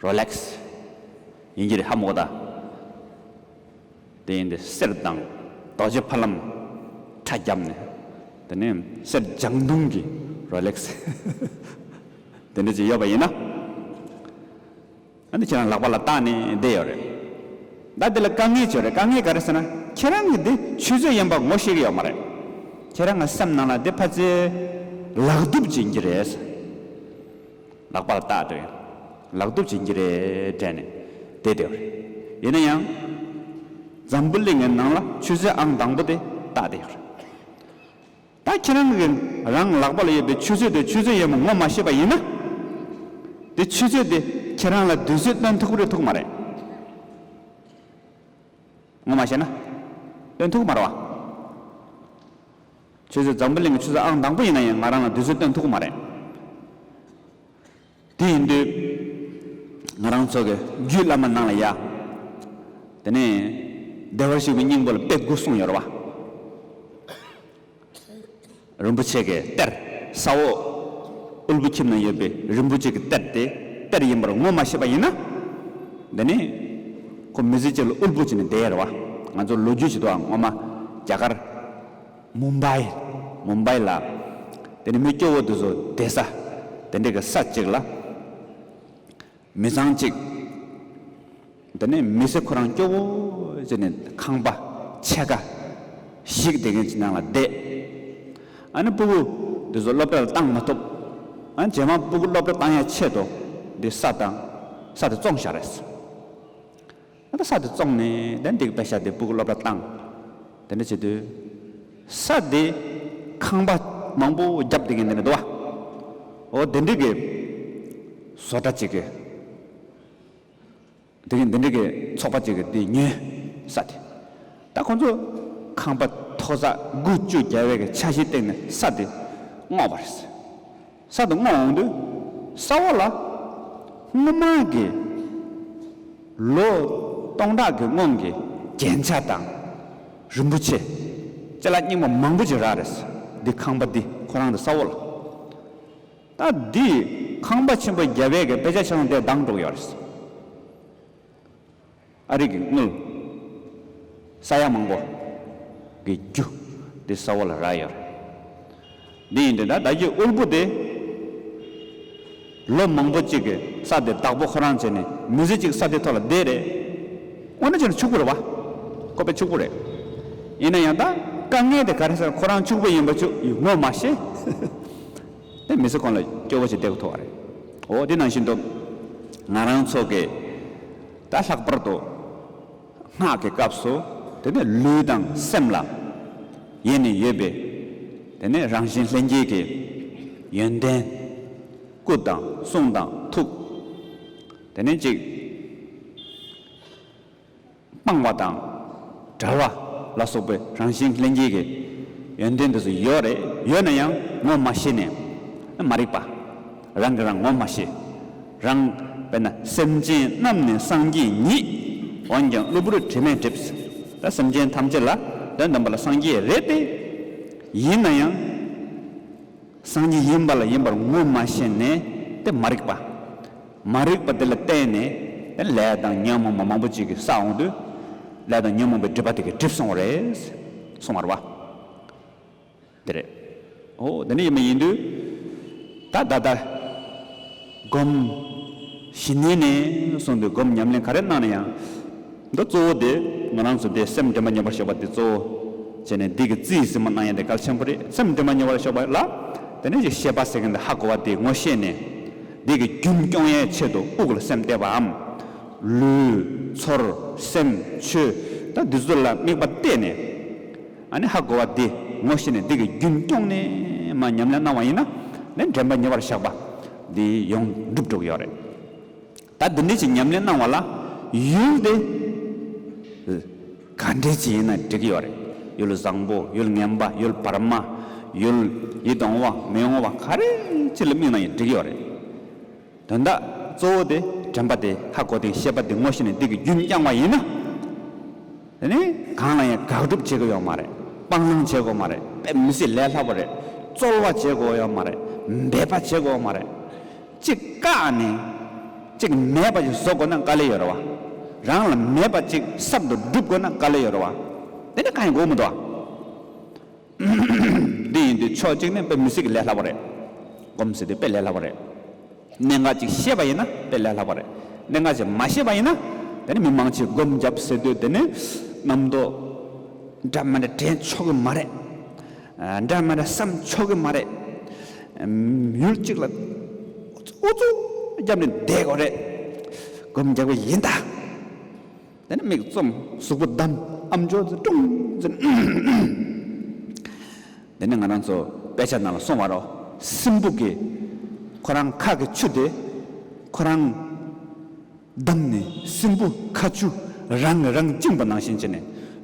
རོ་ལེག་སི། ཡིན་གྱི་རེད་ཧ་མོ་ད། དེ་ཡིན་དེ་གསེར་མདངས་རྡོ་རྗེ་ཕ་ལམ་ཁྲ་རྒྱབ་ནས་དེ་ནས་གསེར་ལྗང་མདུང་གི་རོ་ལེག་སི་དེ་འདྲ་ཅིག་ཡོད་པ་ཡིན་ན། ཨ་འདི་ཁྱེད་རང་ལག་པ་ལ་བཏགས་ནས་བསྡད་ཡོད་རེད། ད་དེ་ལ་དཀའ་ངལ་བྱུང་རེད་དཀའ་ངལ་ག་རེ་ཟེར་ན་ཁྱེད་རང་གི་དེ་ཆུ་ཚོད་ཡིན་པ་ངོ་ཤེས་ཀྱི་ཡོད་མ་རེད། ཁྱེད་རང་གི་སེམས་ནང་ལ་དེ་ཕ་ཚེ་ལག་དུབ་བྱིན་གྱི་རེད། ལག་པར་བཏགས་ཏེ། ལག་གདུབ་བྱིན་གྱིས་རས་བྲན་ནས་དེ་བདེ་བ་རེད། ཡིན་ན་ཡང། འཛམ་བུ་གླིང་གི་ནང་ལ་ཆུ་ཚོད་ཨང་དང་པོ་དེ་བཏགས་བསྡད་ཡོད་རེད། ད་ཁྱེད་རང་གི་རང་ལག་པ་ལ་ཡོད་པའི་ཆུ་ཚོད་དེ་ཆུ་ཚོད་ཡིན་པ་ངོ་མ་ཤེས་པ་ཡིན་ན། དེ་ཆུ་ཚོད་དེ་ཁྱེད་རང་ལ་དུས་ཚོད་སྟོན་ཐུག་རེ་ཐུག་མ་རེད། ངོ་མ་བཤད་ན། སྟོན་ཐུག་མ་རེད་བ། ཁྱོད་ཚོས་འཛམ་བུ་གླིང་གི་ཆུ་ཚོད་ཨང་དང་པོ་ཡིན་ན་ཡང་ང་རང་ལ་དུས་ཚོད་སྟོན་ཐུབ་ཀྱི་མ་རེད། དེ་ཡིན་དུས། ང་རང་ཚོ་གི་རྒྱུད་བླ་མ་ནང་ལ་ཡ། དེ་ནས། བདེ་བར་གཤེགས་པའི་སྙིང་པོ་ལ་དཔེ་དགུ་གསུངས་ཡོད་རེད་བ། རིན་པོ་ཆེ་གི་གཏེར། ས་འོག། དབུལ་པོ་ཁྱིམ་ན་ཡོད་པའི་རིན་པོ་ཆེ་གི་གཏེར་དེ་གཏེར་ཡིན་པར་ངོ་མ་ཤེས་པ་ཡིན་ན། དེ་ནས། ཁོ་མི་ཚེ་གཅིག་ལ་དབུལ་པོ་བྱས་ནས་བསྡད་ཡོད་རེད་བ། ང་ཚོ་ལོ་རྒྱུས་ཞིག་ཏུའང་ངོ་མ། རྒྱ་གར། མུམ་བཱི། Mumbai། ལ། དེ་ནི་མི་སྐྱོ་བོ་དེ་ཚོ་བསྡད་ས། དེ་འདྲ་གི་ས་གཅིག་ལ། མི་ཚང་གཅིག། དེ་ནི་མི་ཚེ་ཁོ་རང་སྐྱོ་བོ་བྱས་ནས་ཁང་པ། ཕྱེད་ཀ། ཞིག་དེ་གི་ནང་ལ་བསྡད། ཨ་ནི་སྤུ་གུ་དེ་ཚོ་སློབ་གྲྭ་ལ་བཏང་མ་ཐུབ། ཨ་ནི་ཇེ་མང་སྤུ་གུ་སློབ་གྲྭ་བཏང་ཡ་ཆེད་དུ་འདི་ས་དང་ས་དེ་བཙོང་ཞག་རེད། ཨ་མདོ་ས་དེ་བཙོང་ནས་དེ་འདེགས་པའི་ཤ་དེ་སྤུ་གུ་སློབ་གྲྭ་བཏང། དེ་འདྲ་བྱེད་དུས། ས་དེ་ཁང་པ་མང་པོ་བརྒྱབ་དེ་གན་དེ་ནས་བརྡོ་བ། འོ་དེ་འདྲི་གི། བཟོ་གྲྭ་གཅིག་གི། དེ་གན་དེ་འདྲི་གི་ཚོགས་པ་གཅིག་གི་དེ་ཉོས། ས་དེ། ད་ཁོང་ཚོ་ཁང་པ་མཐོ་ས་དགུ་བཅུ་བརྒྱ་བའི་གི་ཆ་གཞིའི་སྟེང་ནས་ས་དེ་བསྔོགས་པ་རེད། ས་དང་སྔོ་འོང་དུས་ས་འོག་ལ། སྔོ་མ་གི། ལོ། སྟོང་ཕྲག་གི་སྔོན་གྱི་རྒྱན་ཆ་དང། རིན་པོ་ཆེ། རྩེ་ལ་སྙིང་པོ་མང་པོ་ཅིག་རག་རེས་འདི་ཁང་པ་འདི་ཁོ་རང་གི་ས་འོག་ལ། ད་འདི་ཁང་པ་ཆེན་པོ་རྒྱ་བལ་གི་དཔེ་ཆ་ཆེ་ལོང་དེ་སྡང་གྲོགས་ཡོད་རེས། ཨ་རིག་གི་དངུལ། ས་ཡ་མང་པོ། གི་རྒྱུ། དེ་ས་བོ་ལ་རག་ཡོད་རེད། དེ་ཡིན་དུས་ད་ལྟ་ཀྱི་དབུལ་པོ་དེ། ལོ་མང་པོ་གཅིག་གི་ས་དེ་བདག་པོ་ཁོ་རང་བྱས་ནས་མི་ཟེར་གཅིག་ས་དེ་ཐོག་ལ་བསྡད་རེད། དངོས་གནས་ཕྱི་ལ་ཕྱུག་པོ་རེད་བ། ཁོ་པས་ཕྱུག་པོ་རེད། ཡིན་ན་ཡང་ད་དཀའ་ངལ་དེ་ག་རེ་སར་ཁོ་རང་ཕྱུག་པོ་ཡིན་པ་ཆུ་ཡི་ངོ་མ་ཤེས། དེ་མི་ཚེ་གང་ལ་སྐྱོ་བོ་ཞིག་བསྡད་ཁོ་ཐུག་བ་རེད། འོ་དེ་ནང་བཞིན་དུ། ང་རང་ཚོ་གི། ད་ལྷག་པར་དུ་སྔགས་ཀྱི་སྐབས་སུ་དེ་ནི་ལུས་དང་སེམས་ལ་ཡེ་ནས་ཡོད་པས་དེ་ནི་རང་བཞིན་ལྷན་སྐྱེས་ཀྱི་ཡོན་ཏན། སྐུ་དང་གསུང་དང་ཐུགས། དེ་ནི་གཅིག་སྤངས་བ་དང་བྲལ་བ་ལ་སོགས་པའི་རང་བཞིན་ལྷན་སྐྱེས་ཀྱི་ཡོན་ཏན་དེ་ཚོ་ཡོད་རེད་ཡོད་ན་ཡང་ངོ་མ་ཤེས་ནས་མ་རིག་པ། རང་གིས་རང་ངོ་མ་ཤེས། རང། དཔེར་ན་སེམས་ཅན་རྣམས་ནི་སངས་རྒྱས་ཉིད། འོན་ཀྱང་གློ་བུར་དྲི་མས་བསྒྲིབས། ད་སེམས་ཅན་ཐམས་ཅད་ལ་དོན་དམ་པ་ལ་སངས་རྒྱས་རེད་དེ། ཡིན་ན་ཡང། སངས་རྒྱས་ཡིན་པ་ལ་ཡིན་པར་ངོ་མ་ཤེས་ནས་དེ་མ་རིག་པ། མ་རིག་པ་དེ་ལ་བརྟེན་ནས་དེ་ལས་དང་ཉོན་མོངས་པ་མང་པོ་ཅིག་གིས་བསགས་འོང་དུས། ལས་དང་ཉོན་མོངས་པའི་སྒྲིབ་པ་དེ་གིས་བསྒྲིབས་སོང་བ་རེད། སོང་བར་བ། དེ་རེད། ཨོ། དེ་ནི་ཡིན་མ་ཡིན་དུས། ད་ད་ལྟར། སྒོམ། ཞི་གནས་ནས་བཟུང་སྟེ་སྒོམ་ཉམས་ལེན་ག་རེ་གནང་ན་ཡང། འདི་གཙོ་བོ་དེ་ང་རང་ཚོ་དེ་སེམས་འདྲེན་པ་ཉོ་བར་ཤོག་པ་དེ་གཙོ་བོ། བྱས་ནས་འདི་གི་རྩིས་ཟིན་མོ་གནང་ཡ་དེ་གལ་ཆེན་པོ་རེད་སེམས་འདྲེན་པ་ཉོ་བར་ཤོག་པ་ལ། དེ་ནས་ཀྱི་ཤེས་པ་ཟེར་མཁན་དེ་ཧ་གོ་བ་དེ་ངོ་ཤེས་ནས། འདི་གི་རྒྱུན་སྐྱོང་ཡའི་ཆེད་དུ་དབུགས་ལ་སེམས་གཏད་པའམ། ལུས། ཚོར། སེམས། ཆོས། ད་འདི་ཚོ་ལ་དམིགས་པ་གཏད་ནས། ཨ་ནི་ཧ་གོ་བ་འདི་ངོ་ཤེས་ནས་འདི་གི་རྒྱུན་སྐྱོང་ནས་མ་ཉམས་ལེན་གནང་བ་ཡིན་ན་ནི་འདྲེན་པ་ཉེ་བར་བཞག་པ་འདི་ཡོངས་འགྲུབ་འགྲོ་གི་ཡོད་རེད་ད་འདི་འདྲའི་ཅིག་ཉམས་ལེན་གནང་བ་ལ་ཡུལ་འདི་ག་འདྲའི་ཅིག་ཡིན་ན་འགྲིག་གི་ཡོད་རེད་ཡུལ་བཟང་པོ་ཡུལ་ངན་པ་ཡུལ་བར་མ་ཡུལ་ཡིད་འོང་བ་མི་འོང་བ་ག་རེ་ཅིག་ལ་དམིགས་ན་ཡང་འགྲིག་གི་ཡོད་རེད། དོན་དག་གཙོ་བོ་དེ་དྲན་པ་དེ་ལྷ་གོ་དེའི་ཤེས་པ་དེ་ངོ་ཤེས་ནས་འདི་གི་རྒྱུན་བསྐྱངས་བ་ཡིན་ན། དེ་ནི་གང་ལ་ཡང་དགག་སྒྲུབ་བྱེད་དགོས་ཡོད་མ་རེད། སྤང་བླང་བྱེད་དགོས་མ་རེད་དཔེ་མི་སྲིད་ལས་སླ་པོ་རེད། རྩོལ་བ་བྱེད་དགོས་ཡོད་མ་རེད། འབད་པ་བྱེད་དགོས་མ་རེད། གཅིག་བཀག་ནས། གཅིག་མེད་པ་ཞིག་བཟོ་དགོས་ན་དཀའ་ལས་ཡོད་རེད་བ། རང་ལ་མེད་པ་གཅིག་གསར་དུ་སྒྲུབ་དགོས་ན་དཀའ་ལས་ཡོད་རེད་བ། དེ་ནི་གང་ཡང་དགོས་མི་འདུག་བ། འདི་ཡིན་ཏེ་ཕྱོགས་གཅིག་ནས་དཔེ་མི་སྲིད་ཀྱི་ལས་སླ་བ་རེད། གོམས་སྲིད་དེ་དཔེ་ལས་སླ་བ་རེད། གནད་འགག་ཅིག་ཤེས་པ་ཡིན་ན་དཔེ་ལས་སླ་བ་རེད། གནད་འགག་ཅིག་མ་ཤེས་པ་ཡིན་ན་དེ་ནི་མི་མང་ཆེས་སྒོམ་རྒྱབ་ཟེར་དུས་དེ་ནི་རྣམ་རྟོག་འདྲ་མིན་དྲན་ཆོག་གི་མ་རེད། འདྲ་མིན་བསམ་ཆོག་གི་མ་རེད། མྱུར་གཅིག་ལ་ཨུ་ཚུགས་བརྒྱབ་ནས་བསྡད་དགོས་རེད། སྒོམ་རྒྱག་པ་ཡིན་ད། དེ་ནས་མིག་བཙུམ། གཟུགས་པོ་བསྡམ། ཨམ་ཅོག་ཙེ་ཀྲུང། ཙི། དེ་ནས་ང་རང་ཚོ་དཔེ་ཆ་ནང་ལ་སོང་བར་རོ། སྲིན་སྦུག་གིས། ཁོ་རང་ཁ་གི་ཆུ་དེ། ཁོ་རང། བསྡམས་ནས་སྲིན་སྦུག་ཁ་ཆུ་རང་གིས་རང་བཅིངས་པ་ནང་བཞིན་བྱས་ནས།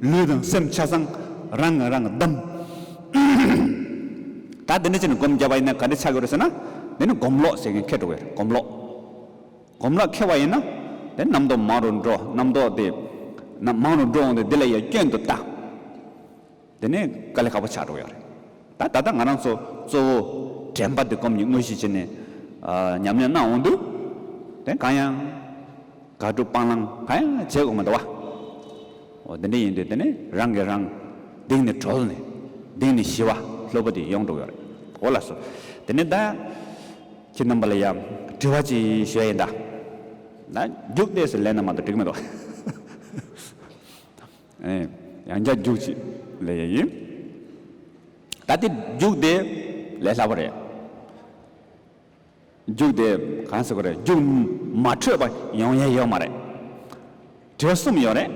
ལུས་དང་སེམས་ཆ་ཚང་རང་གིས་རང་བསྡམས། ད་འདི་འདྲ་བྱས་ནས་སྒོམ་རྒྱབ་པ་ཡིན་ན་ག་འདྲ་ཆགས་ཀྱི་རེད་ཟེར་ན། འདི་ནི་སྒོམ་ལོག་ཟེར་མཁན་ཁེར་འགྲོ་གི་རེད་སྒོམ་ལོག། གོམས་ལ་མཁས་པ་ཡིན་ན། དེ་རྣམ་རྟོག་མང་རུ་འགྲོ། རྣམ་རྟོག་དེ་རྣམས་མང་རུ་འགྲོ་འོང་སྟེ་དེ་ལ་ཡང་སྐྱོན་དུ་བལྟ། དེ་ནས་དཀའ་ལས་ཁག་པོ་ཆགས་འགྲོ་ཡོད་རེད། ད་ད་ལྟ་ང་རང་ཚོ་གཙོ་བོ་དྲན་པ་དེ་སྒོམ་གྱི་དངོས་གཞི་བྱས་ནས་ཉམས་ལེན་གནང་འོང་དུས། དེ་གང་ཡང་དགག་སྒྲུབ་སྤང་བླང་གང་ཡང་བྱེད་དགོས་མི་འདུག་བ། འོ་དེ་འདྲ་ཡིན་དུས་དེ་ནས་རང་གིས་རང་སྡིག་ནས་གྲོལ་ནས་སྡིག་ནས་ཞི་བ་ལྷོད་པོ་དེ་ཡོང་འགྲོ་ཡོད་རེད། འོ་ལགས་སོ། དེ་ནས་ད། ཁྱེད་རྣམ་པ་ལ་ཡང་དྲི་བ་ཅིག་ཞུ་ཡ་ཡིན་ད། ན་རྒྱུག་ལྟས་སུ་ལན་རྣམ་མང་དུ་འགྲིག་མི་འདུག། ཨེ། ཡང་བསྐྱར་རྒྱུག་ཅིག་ལས་ཡ་ཡིན། ད་ལྟའི་རྒྱུག་དེ་ལས་སླ་པོ་རེད། རྒྱུག་དེ་གང་ཟེར་དགོས་རེད་རྒྱུག་མ་འཕྲོད་པ་ཡོང་ཡ་ཡོད་མ་རེད། དྲི་བ་གསུམ་ཡོད་རེད།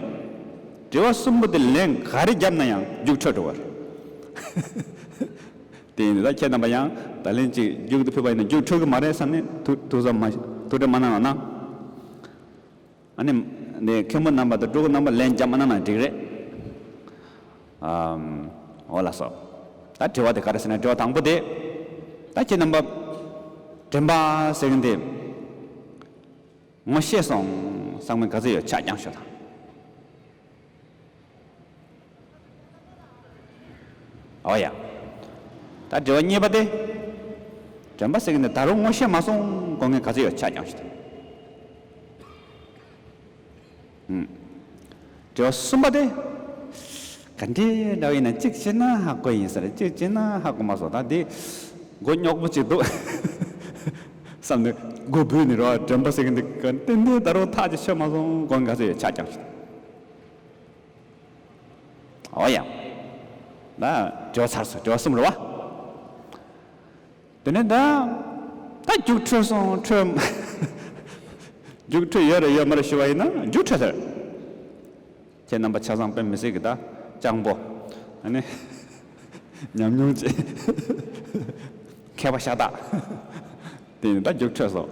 དྲི་བ་གསུམ་པོ་དེ་ལན་ག་རེ་བརྒྱབ་ན་ཡང་རྒྱུགས་འཕྲོད་འགྲོ་བ་རེད། དེ་ཡིན་ན་ད་ཁྱེད་རྣམ་པ་ཡང་ད་ལན་ཅིག་རྒྱུགས་དུ་ཕེབས་པ་ཡིན་ན་རྒྱུགས་འཕྲོད་གི་མ་རེད་བསམ་ནས་ཐུགས་ཐུགས་ས་མ་ཐུགས་ཁྲལ་མ་གནང་རོགས་གནང། ཨ་ནི་དེ་མཁན་པོ་རྣམ་པ་དང་སྤྲུལ་སྐུ་རྣམ་པ་ལན་བརྒྱབ་མ་གནང་ན་འགྲིག་རེད། ཨ་འོ་ལགས་སོ། ད་དྲི་བ་དེ་ག་རེ་ཟེར་ན་དྲི་བ་དང་པོ་དེ། ད་ཁྱེད་རྣམ་པ་དྲན་པ་ཟེར་མཁན་དེ། ངོ་ཤེས་སོང། སང་མི་ག་ཚོད་ཡོད་ཆ་རྐྱང་ཤོད་དང། ཨོ་ཡ། ད་དྲི་བ་གཉིས་པ་སྟེ། དྲན་པ་ཟེར་གི་འདི་ད་རུང་ངོ་ཤེས་མ་སོང་གོ་ངས་ག་ཚོད་ཡོད་ཆ་རྐྱང་ཤོད་དང། དྲི་བ་གསུམ་པ་སྟེ། ག་འདྲའི་དགྲ་བོ་ཡིན་ན་གཅིག་སྤྱིར་ན་ཧ་གོ་ཡིན་ཟེར་གཅིག་སྤྱིར་ན་ཧ་གོ་མ་སོགས་དང་དེ། མགོ་རྙོག་པོ་གཅིག་འདུག། བསམ་ནས་མགོ་སྒུར་ནས་རོགས་དྲན་པ་ཟེར་གྱི་འདུག་ག་ཏན་ཏན་ད་རུང་ཐག་ཅིག་ཆོད་མ་སོང་མགོ་འགའ་ཚོས་ཡོད་ཆགས་ཀྱང་ཞུ། ཨོ་ཡང། ན་དྲི་བ་ཚར་སོང་དྲི་བ་གསུམ་རེད་བ། དེ་ནས་ད། ད་རྒྱུགས་འཕྲོད་སོང་འཕྲོད། རྒྱུགས་འཕྲོད་ཡོད་རེད་ཡོད་མ་རེད་ཞུ་བ་ཡིན་ན་རྒྱུགས་འཕྲོད་ཟེར། ཁྱེད་རྣམ་པ་ཆ་ཚང་དཔོན་མི་སྲིད་གི་ད་སྤྱང་པོ། ཨ་ནི། ཉམས་མྱོང་ཅན། མཁས་པ་ཤ་སྟག། དེ་ཡིན་ན་ད་རྒྱུགས་འཕྲོད་སོང།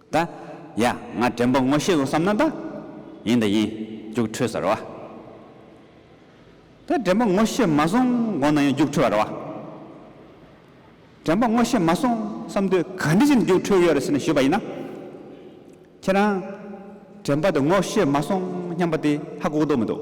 ད་ཡ་ང་དྲན་པ་ངོ་ཤེས་སོ་བསམ་ན་ད་ཡིན་ད་ཡིན་རྒྱུགས་འཕྲོད་ཟེར་བ། ད་དྲན་པ་ངོ་ཤེས་མ་སོང་དགོངས་ན་ཡང་རྒྱུགས་འཕྲོད་བར་བ། དྲན་པ་ངོ་ཤེས་མ་སོང་བསམ་དུས་ག་འདི་བཞིན་རྒྱུགས་འཕྲོད་ཡོད་རེད་ཟེར་ནས་ཞུས་པ་ཡིན་ན། ཁྱེད་རང་དྲན་པ་དེ་ངོ་ཤེས་མ་སོང་སྙམ་པ་དེ་ཧ་གོ་གི་འདུག་མི་འདུག།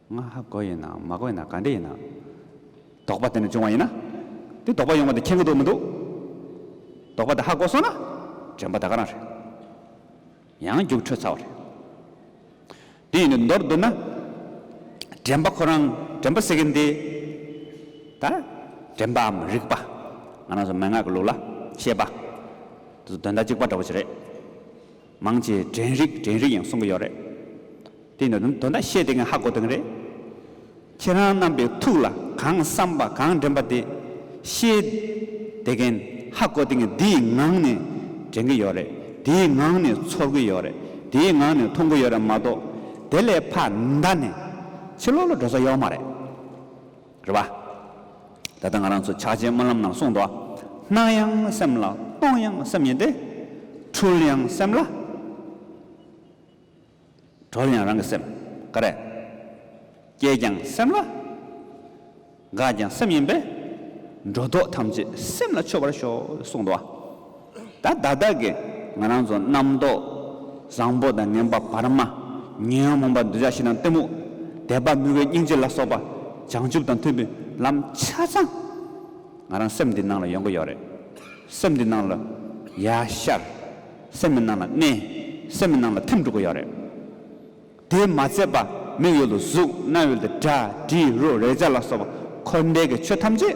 ང་ཧ་གོ་ཡིན་ནམ་མ་གོ་ཡིན་ནམ་ག་འདྲས་ཡིན་ནམ། དོགས་པ་དེ་ནས་བྱུང་བ་ཡིན་ན། དེ་དོགས་པ་ཡོང་བ་དེ་མཁྱེན་གི་འདུག་མི་འདུག། དོགས་པ་དེ་ཧ་གོ་སོང་ན། དྲན་པ་ད་ག་རང་རེད། ཡང་རྒྱུགས་འཕྲོད་ཚར་བ་རེད། དེ་ཡིན་ནའི་མདོར་བསྡུར་ན། དྲན་པ་ཁོ་རང་དྲན་པ་ཟེར་གི་འདི། ད། དྲན་པའམ་རིག་པ། ང་རང་ཚོ་མན་ངག་གི་ལུགས་ལ། ཤེས་པ། དོན་དག་གཅིག་པ་འདྲ་བོ་ཞིག་རེད། མང་ཆེ་དྲན་རིག་དྲན་རིག་ཡང་གསུང་གི་ཡོད་རེད་དེ་ནི་དོན་དག་བཤད་དེ་གི་ཧ་གོ་དེ་གི་རེད་ཁྱེད་རང་རྣམ་པའི་ཐུགས་ལ་གང་བསམ་པ་གང་དྲན་པ་དེ་བཤད་དེ་གན་ཧ་གོ་དེ་གི་དེའི་ངང་ནས་དྲན་གི་ཡོད་རེད་དེའི་ངང་ནས་ཚོར་གི་ཡོད་རེད་དེའི་ངང་ནས་མཐོང་གི་ཡོད་རེད་མ་གཏོགས་དེ་ལས་ཕ་མཐའ་ནས་ཕྱི་ལོག་ལ་འགྲོ་ས་ཡོད་མ་རེད། རེད་བ། ད་ལྟ་ང་རང་ཚོ་ཕྱག་ཆེན་སྨོན་ལམ་ནང་གསུངས་འདུག་སྣང་ཡང་སེམས་ལ་སྟོང་ཡང་སེམས་ཡིན་ཏེ། འཁྲུལ་ཡང་སེམས་ལ། གྲོལ་ཡང་རང་གི་སེམས། ཀ་རེད། སྐྱེས་ཀྱང་སེམས་ལ། འགག་ཀྱང་སེམས་ཡིན་པས། འགྲོ་ལྡོག་ཐམས་ཅད་སེམས་ལ་ཆོད་པར་ཤོག་གསུངས་འདུག། ད་བདག་བདག་གི་ང་རང་ཚོ་རྣམ་རྟོག་བཟང་པོ་དང་ངན་པ་བར་མ། ཉོན་མོངས་པ་འདོད་ཆགས་ཞི་དང་གཏི་མུག། དད་པ་མི་དགོས་སྙིང་རྗེ་ལ་སོགས་པ། བྱང་ཆུབ་དང་མཐུན་པའི་ལམ་ཆ་ཚང། ང་རང་སེམས་འདི་ནང་ལ་ཡོང་གི་ཡོད་རེད། སེམས་འདི་ནང་ལ་ཡ་ཤར། སེམས་མི་ནང་ལ་གནས། སེམས་མི་ནང་ལ་ཐིམ་འགྲོ་གི་ཡོད་རེད། དེས་མ་ཚད་པ་མིག་ཡོད་དུ་གཟུགས་རྣ་ཡོད་དུ་སྒྲ་དྲི་རོ་རེག་བྱ་ལ་སོགས་པ་འཁོར་འདས་ཀྱི་ཆོས་ཐམས་ཅད།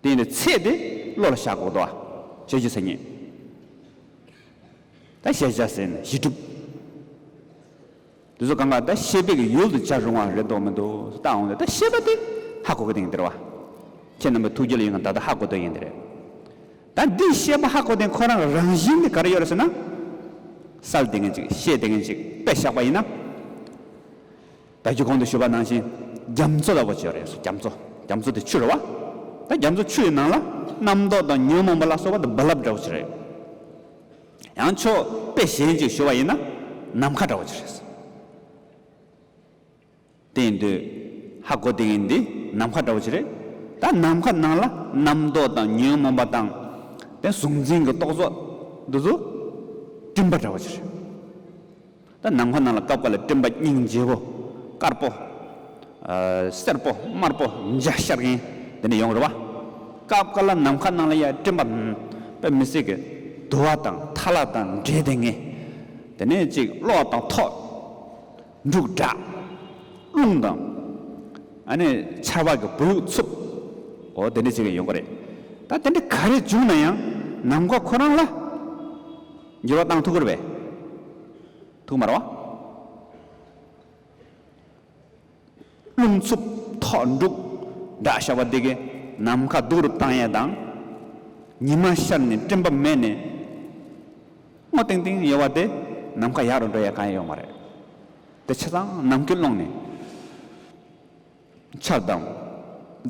བསྟན་པའི་ཚད་དེ་བློ་ལ་ཤར་གོ་ལྟོ་བ། ཞལ་གྱི་ས་བརྙེས། ད་ཤེས་བྱ་ཟེར་ནས་གཞི་གྲུབ། དེ་ཚོ་གང་ག་ད་ཤེས་དཔེ་གི་ཡུལ་དུ་བྱར་རུང་བ་རེད་འདོག་མི་འདུག་སུ་ལྟ་འོང་ལ་ད་ཤེས་པ་དེ་ཧ་གོ་གི་དེང་འདིར་བ། ཁྱེད་རྣམ་པའི་ཐུགས་རྒྱལ་ཡིན་གང་ད་ལྟ་ཧ་གོ་འདོད་ཡིན་འདི་རེད། ད་འདིས་ཤེས་པ་ཧ་གོ་དེ་ཁོ་རང་གི་རང་བཞིན་དེ་ག་རེ་ཡོད་རེད་ཟེར་ན། གསལ་དེ་ངན་ཅིག་ཤེས་དེ་ངན་ཅིག་དཔེ་བཞག་པ་ཡིན་ན། བདག་གིས་གོང་དུ་ཞུས་པ་ནང་བཞིན་རྒྱ་མཚོ་ལ་བ་ཅོ་རེ་སོགས་རྒྱ་མཚོ་རྒྱ་མཚོ་དེ་ཆུ་རུ་བ། ད་རྒྱ་མཚོ་ཆུ་ཡི་ནང་ལ་རྣམ་རྟོག་དང་ཉོན་མོངས་པ་ལ་སོགས་པ་དང་རྦ་རླབས་འདྲ་བ་ཅི་རེ། ཡང་ཕྱོགས་དཔེ་གཞན་ཅིག་ཞུ་བ་ཡིན་ན་ནམ་མཁའ་འདྲ་བ་ཅི་རེ་ཟེར། དེ་ཡིན་དུས་ཧ་གོ་དེ་ཡིན་འདི་ནམ་མཁའ་འདྲ་བ་ཅི་རེ། ད་ནམ་མཁའ་ནང་ལ་རྣམ་རྟོག་དང་ཉོན་མོངས་པ་དང། དེ་གཟུང་འཛིན་གྱི་རྟོག་ཚོགས་འདི་ཚོ་སྤྲིན་པ་འདྲ་བ་ཅི་རེ། ད་ནངས་ཁོ་ན་ལ་སྐབས་འགའ་ལ་སྤྲིན་པ་སྙིང་རྗེ་བོ། དཀར་པོ། སེར་པོ། དམར་པོ། མཇའ་ཤར་མཁན། དེ་འདྲ་ཡོང་རུ་བ། སྐབས་འགའ་ལ་ནམ་མཁའ་ནང་ལ་ཡ་སྤྲིན་པ། པད་མི་སྲིད་ཀྱི། དུ་བ་དང་ཐ་ལག་དང་འདྲེས་དེ་ངེས། དེ་ནས་ཅིག་གློག་དང་ཐོག། འབྲུག་སྒྲ། རླུང་དང། ཨ་ནི་ཆར་བ་གི་བུ་ལུག་འཚུབ། འོ་དེ་འདྲ་ཅིག་ཡོང་གི་རེད། ད་དེ་འདྲ་ག་རེ་བྱུང་ན་ཡང་ནམ་མཁའ་ཁོ་རང་ལ། འགྱུར་བ་དང་ཐུགས་ཁུར་བས། ཐུགས་དམར་བ། རླུང་འཚུབ་ཐོག་འབྲུག་སྒྲ་ཤར་བ་འདི་གས་ནམ་མཁའ་སྡུག་རུབ་བཏང་ཡས་དང། ཉི་མ་ཤར་ནས་སྤྲིན་པ་མེད་ནས། སྔོ་ཏིང་ཏིང་ཡོད་བ་དེ་ནམ་མཁའ་ཡག་རུ་འགྲོ་ཡས་གང་ཡང་ཡོད་མ་རེད། དེ་ཆ་ཚང་ནམ་མཁའི་ཀློང་ནས། ཆགས་སྡང།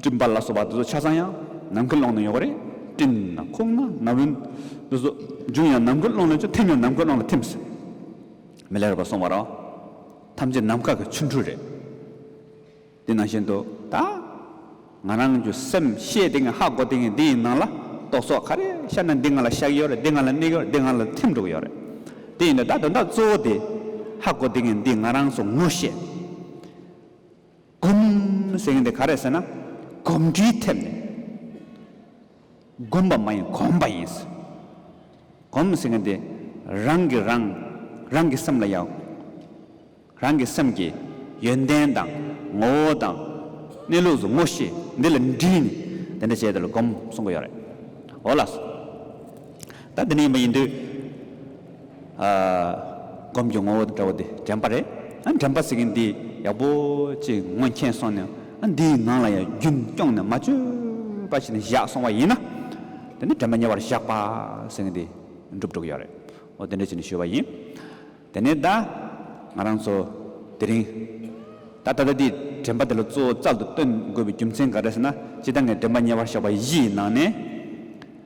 སྒྲིབ་འབར་ལ་སོགས་པ་དེ་ཚོ་ཆ་ཚང་ཡང་ནམ་མཁའི་ཀློང་ན་ཡོད་པ་རེད། སྤྲིན། ཁུག་ན་ན་བུན། དེ་ཚོ་འབྱུང་ཡང་ནམ་མཁའི་ཀློང་ལ་ཅིག་ཐིམ་ཡང་ནམ་མཁའི་ཀློང་ལ་ཐིམ་ཟེར། མི་ལེགས་པར་སོང་བ་རང། ཐམས་ཅད་ནམ་མཁའ་གི་ཆུ་འཕྲུལ་རེད། དེ་ནང་བཞིན་དུ་ད། ང་རང་གི་སེམས་ཤེས་དེ་ངས་ཧ་གོ་དེ་ངས་འདི་ཡི་ནང་ལ་རྟོག་ཚོགས་ག་རེ་ཤར་ན་འདི་ང་ལ་བཤགས་ཀྱི་ཡོད་རེད་འདི་ང་ལ་གནས་ཀྱི་ཡོད་རེད་འདི་ང་ལ་ཐིམ་འགྲོ་གི་ཡོད་རེད། དེ་ཡིན་ན་ད་དོན་དག་གཙོ་བོ་དེ། ཧ་གོ་དེ་ངས་འདི་ང་རང་སོ་ངོ་ཤེས། སྒོམ་ཟེར་མཁན་དེ་ག་རེད་ཟེར་ན། སྒོམ་འཁྲུལ་ཐེབས་ནས། སྒོམ་པ་མ་ཡིན་གོམས་པ་ཡིན་ཟེར། གོམས་ཟེར་མཁན་དེ་རང་གིས་རང། རང་གི་སེམས་ལ་ཡང། རང་གི་སེམས་ཀྱི་ཡོན་ཏན་དང། ངོ་བོ་དང། གནས་ལུགས་ཟུང་ངོ་ཤེས་འདི་ལ་འདྲིས་ནས་འདི་འདྲ་བྱས་འདི་ལ་སྒོམ་གསུང་གི་ཡོད་རེད། འོ་ལགས་སོ། ད་འདི་འདྲ་ཡིན་པ་ཡིན་དུས། སྒོམ་གྱི་ངོ་བོ་དང་འདྲ་བ་འདི་དྲན་པ་རེད། ཨ་དྲན་པ་ཟེར་གིན་འདི་ཡག་པོ་ཅིག་ངོ་མཁྱེན་སོང་ནས་ཨ་འདིའི་ངང་ལ་ཡང་རྒྱུན་སྐྱོང་ནས་མ་བཅོས་པ་ཞིག་ནས་བཞག་སོང་བ་ཡིན་ན། དེ་ནི་དྲན་པ་ཉེ་བར་བཞག་པ་ཟེར་གིན་འདི་འགྲུབ་འགྲོ་གི་ཡོད་རེད། འོ་དེ་འདྲ་བྱས་ནས་ཞུས་བ་ཡིན། དེ་ནས་ད་ང་རང་ཚོ་དེ་རིང་ད་ད་ལྟ་འདིའི་དྲན་པ་དེ་ལ་གཙོ་བོ་རྩལ་དུ་བཏོན་དགོས་པའི་རྒྱུ་མཚན་ག་རེ་ཟེར་ན། སྤྱིར་ད་ངས་དྲན་པ་ཉེ་བར་བཞག་པ་བཞིའི་ནང་ནས།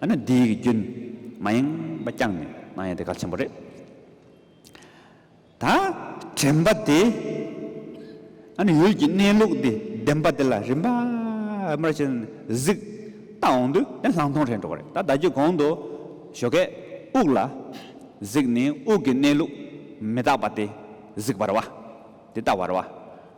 ཨ་ནི་འདི་ཡི་གི་རྒྱུན། མ་ཡེངས་པ་བསྐྱངས་ནས་གནང་ཡས་དེ་གལ་ཆེན་པོ་རེད། ད་དྲན་པ་དེ། ཨ་ནི་ཡུལ་གྱི་གནས་ལུགས་འདི་བདེན་པ་དེ་ལ་རིམ་པ་རིམ་པར་བྱས་ནས་གཟིགས། ལྟ་འོང་དུས་དེ་ལྷག་མཐོང་རེད་འགྲོ་བ་རེད་ད་ཟླ་རྒྱུད་གོང་དུ་ཞོ་གས་དབུགས་ལ་གཟིགས་ནས་དབུགས་ཀྱི་གནས་ལུགས་མི་རྟག་པ་དེ་གཟིགས་པར་བ། དེ་ལྟ་བར་བ།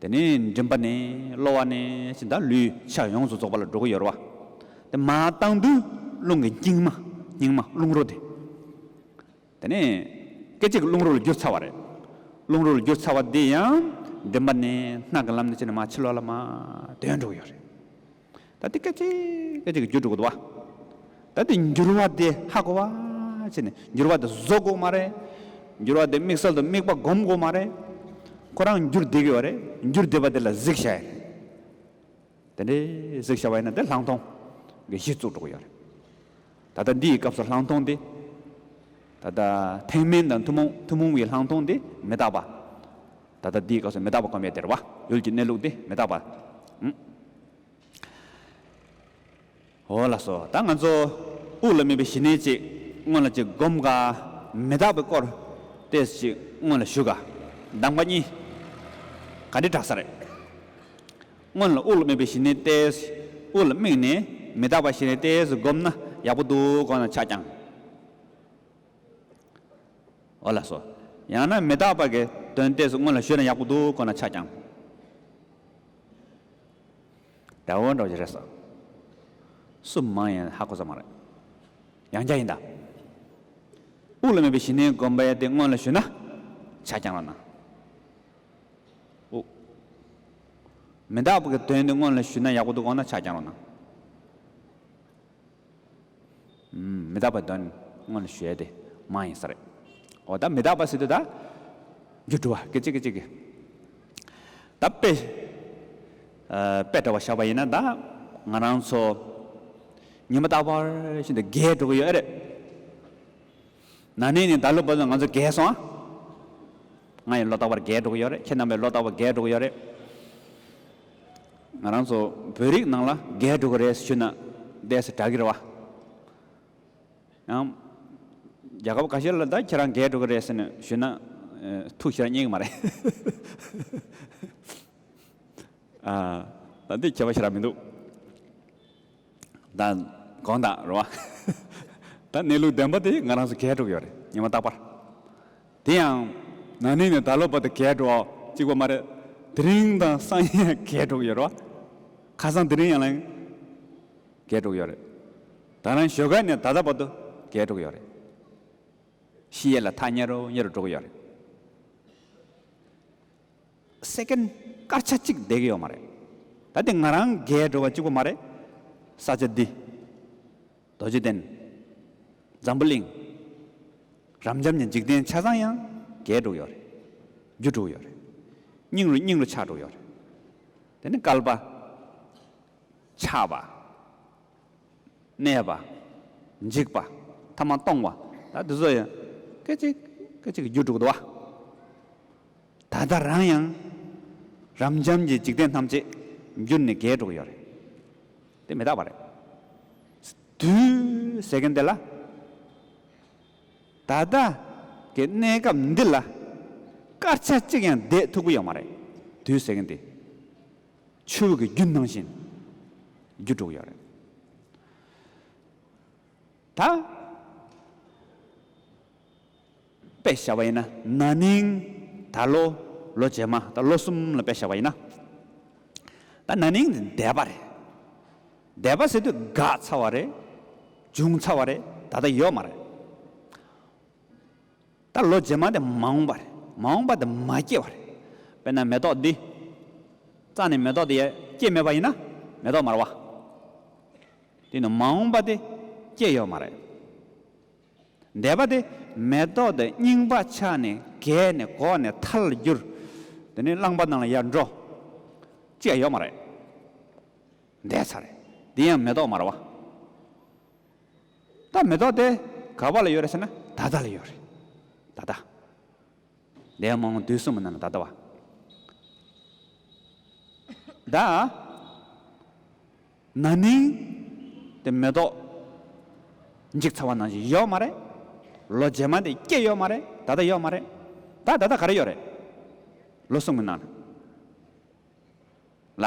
དེ་ནས་མགྲིན་པ་ནས་གློ་བ་ནས་ཅི་འདར་ལུས་ཕྱག་ཡོངས་སུ་རྫོགས་པ་ལ་འགྲོ་གི་ཡོད་རེད་བ། དེ་མ་བཏང་དུས་རླུང་གི་སྙིང་མ་སྙིང་མ་རླུང་རོ་དེ། དེ་ནས་སྐད་ཅིག་རླུང་རོ་ལ་འགྱུར་ཚར་བ་རེད། རླུང་རོ་ལ་འགྱུར་ཚར་བ་དེ་ཡང་མགྲིན་པ་ནས་སྣ་གི་ལམ་ནས་ཕྱིན་ནས་མ་ཕྱི་ལོག་ལ་མ་དོན་འགྲོ་གི་ཡོད་རེད། ད་དེ་སྐད་ཅིག་སྐད་ཅིག་གིས་རྒྱུ་དྲུག་གོ་བ། ད་དེ་འགྱུར་བ་དེ་ཧ་གོ་བ། ཅེས་ནས་འགྱུར་བ་དེ་བཟོ་དགོས་མ་རེད། འགྱུར་བ་དེ་དམིགས་བསལ་དུ་དམིགས་པ་སྒོམ་དགོས་མ་རེད། ཁོ་རང་འགྱུར་བསྡད་ཀྱི་བ་རེད། འགྱུར་བསྡད་པ་དེ་ལ་གཟིགས་བྱ་ཡ་རེད། དེ་འདྲའི་གཟིགས་བྱ་བ་ཡིན་ན་དེ་ལྷག་མཐོང་གི་གཞི་བཙུགས་འགྲོ་གི་ཡོད་རེད། ད་ལྟ་འདི་ཡི་སྐབས་སུ་ལྷག་མཐོང་འདི། ད་ལྟ་ཐེག་དམན་དང་ཐུན་མོང་ཐུན་མོང་བའི་ལྷག་མཐོང་འདི་མི་རྟག་པ། ད་ལྟ་འདི་ཡི་སྐབས་སུ་མི་རྟག་པ་གོམས་པའི་བདེར་བ་ཡུལ་གྱི་གནས་ལུགས་འདི་མི་རྟག་པ། འོ་ལགས་སོ་ད་ང་ཚོ་དབུགས་ལ་སྨིན་པའི་ཞི་གནས་ཅིག་སྔོན་ལ་ཅིག་བསྒོམ་དགའ། མི་རྟག་པའི་སྐོར་དེ་ཅིག་སྔོན་ལ་ཞུ་དགའ། གདམས་ཀ་གཉིས། ག་འདྲི་དྲག་ས་རེད། སྔོན་ལ་དབུགས་ལ་དམིགས་པའི་ཞི་གནས་ཏེ། དབུགས་ལ་དམིགས་ནས་མི་རྟག་པ་ཞི་གནས་ཏེ་བསྒོམས་ན་ཡག་པོ་འདུག་གང་ལ་ཆགས་ཀྱང་འོ་ལ་སོ། ཡང་ན་མི་རྟག་པ་གི་དོན་ཏེ་སྔོན་ལ་ཞུས་ན་ཡག་པོ་འདུག་གང་ལ་ཆགས་ཀྱང་དལ་བོ་འགྲོ་རྒྱུ་རེད་ཟེར། སུ་མང་ཡིན་ཧ་གོ་ས་མ་རེད། ཡང་བསྐྱར་ཡིན་ད། དབུགས་ལ་དམིགས་པའི་ཞི་གནས་བསྒོམ་པ་ཡིན་ཏེ་སྔོན་ལ་ཞུས་ན་ཆགས་ཀྱང་འོ་ན། ཨོ། མི་དག་པའི་དོན་དེ་སྔོན་ལ་ཞུས་ན་ཡག་པོ་འདུག་འོ་ན་ཕྱག་བརྐྱང་རོགས་གནང། མི་དག་པའི་དོན་སྔོན་ལ་ཞུས་ཏེ་མ་ཡིན་ས་རེད། འོ་ད་མི་དག་པ་སྲིད་དུ་ད་རྒྱུ་དྲུག་བ་སྐད་ཅིག་གིས་གཅིག་གིས་ད་དཔེ། དཔེ་འདྲ་བ་བཞག་པ་ཡིན་ན་ད་ང་རང་ཚོ་ཉི་མ་རྟག་པར་བཞིན་དུ་རྒས་འགྲོ་གི་ཡོད་ཨེ་རེད། ན་ནིང་ནས་ད་ལོ་བར་དུ་ང་ཚོ་རྒས་སོང་ཨ། ང་ཡི་ལོ་རྟག་པར་རྒས་འགྲོ་གི་ཡོད་རེད་ཁྱེད་རྣམ་པའི་ལོ་རྟག་པར་རྒས་འགྲོ་གི་ཡོད་རེད། ང་རང་ཚོ་བོད་རིགས་ནང་ལ་རྒས་འགྲོ་གི་རེད་ཟེར་ཞུས་ན་བདེ་སེ་དྲག་གི་རེད་བ། ཡང། རྒྱལ་ཁབ་ག་ཤེད་ལ་ད་ཁྱེད་རང་རྒས་འགྲོ་གི་རེད་ཟེར་ནས་ཞུས་ན། ཐུགས་ཁྱེད་རང་སྙེག་གི་མ་རེད། ཨ། ད་འདི་ཁྱད་པར་ཆེ་རག་མི་འདུག། དང། གང་དང་རུང་བ། དང་གནས་ལུགས་བདེན་པ་དེ་ང་རང་ཚོ་གས་དྲུག་ཡོད་རེད་ཉི་མ་རྟག་པར། དེ་ཡང། ན་ནིང་ནས་ད་ལོ་བར་དུ་གས་དྲུག་གཅིག་པ་མ་རེད། དེ་རིང་དང་སང་ཉིན་ཡང་གས་དྲུག་ཡོད་རེད། ཁ་སང་དེ་རིང་ཡང་ལན། གས་དྲུག་ཡོད་རེད། དང་རང་ཞོ་གས་ནས་ད་ལྟ་བར་དུ་གས་དྲུག་ཡོད་རེད། ཤི་ཡས་ལ་ཐག་ཉེ་རུ་ཉེ་རུ་དྲུག་ཡོད་རེད། Second། སྐར་ཆ་གཅིག་བསྡད་ཀྱི་ཡོད་མ་རེད། ད་དེ་ང་རང་རྒས་འགྲོ་བ་གཅིག་པོ་མ་རེད། ས་ཆ་འདི། རྡོ་རྗེ་གདན། འཛམ་བུ་གླིང། རབ་འབྱམས་ཀྱི་འཇིག་རྟེན་ཆ་ཚང་ཡང་རྒས་འགྲོ་གི་ཡོད་རེད། རྒྱུ་དྲུག་ཡོད་རེད། སྙིང་རུས་སྙིང་རུས་ཆགས་འགྲོ་གི་ཡོད་རེད། དེ་ནི་སྐལ་པ། ཆགས་པ། གནས་པ། འཇིག་པ། ཐ་མ་སྟོང་བ། ད་དུ་སོ་ཡང། སྐད་ཅིག་སྐད་ཅིག་གིས་རྒྱུ་དྲུག་འདུ་བ། ད་ལྟ་རང་ཡང། རབ་འབྱམས་ཀྱི་འཇིག་རྟེན་ཐམས་ཅད་རྒྱུ་ནི་བརྒྱད་དྲུག་ཡོད་རེད། དེ་མི་རྟག་པ་རེད། དུས་ཟེར་མཁན་དེ་ལ། ད་ལྟ་གི་གནས་སྐབས་འདི་ལ། སྐར་ཆ་གཅིག་ཡང་བསྡད་ཐུག་གི་ཡོད་མ་རེད། དུས་ཟེར་མཁན་དེ། ཆོས་ཀྱི་རྒྱུ་སྣང་བཞིན། རྒྱུ་དྲུག་ཡོད་རེད། ད། དཔེ་བཞག་པ་ཡིན་ན་ན་ནིང་ད་ལོ་ལོ་རྗེས་མ་ད་ལོ་གསུམ་ལ་དཔེ་བཞག་པ་ཡིན་ན། ད་ན་ནིང་འདས་པ་རེད། འདས་པ་ཟེར་དུས་དགག་ཚར་བ་རེད། བྱུང་ཚར་བ་རེད་ད་ལྟ་ཡོད་མ་རེད། ད་ལོ་རྗེས་མ་དེ་མ་འོངས་པར་མ་འོངས་པ་དེ་མ་སྐྱེས་བར། དཔེར་ན་མེ་ཏོག་འདི། རྩ་ནས་མེ་ཏོག་དེ་སྐྱེས་མེད་པ་ཡིན་ན་མེ་ཏོག་མར་བ། དེ་ནི་མ་འོངས་པ་དེ་སྐྱེས་ཡོད་མ་རེད། འདས་པ་དེ་མེ་ཏོག་དེ་རྙིང་པ་ཆགས་ནས་རྒས་ནས་གོག་ནས་ཐལ་ལ་འགྱུར། དེ་ནི་རླངས་པ་ནང་ལ་ཡར་འགྲོ། སྐྱེས་ཡོད་མ་རེད། འདས་ཚར། དེ་ཡང་མེ་ཏོག་མར་བ། ད་མེ་ཏོག་དེ་ག་བ་ལ་ཡོད་རེད་ཟེར་ན་ད་ལྟ་ལ་ཡོད་རེད། ད་ལྟ། འདས་མ་འོངས་དུས་གསུམ་མི་ན་ལ་ད་ལྟ་བ། ད། ན་ནིང་དེ་མེ་ཏོག་འཇིག་ཚར་བ་ནང་བཞིན་ཡོད་མ་རེད། ལོ་རྗེས་མ་དེ་སྐྱེས་ཡོད་མ་རེད་ད་ལྟ་ཡོད་མ་རེད། ད་ད་ལྟ་ག་རེ་ཡོད་རེད། ལོ་གསུམ་གི་ནང་ལ།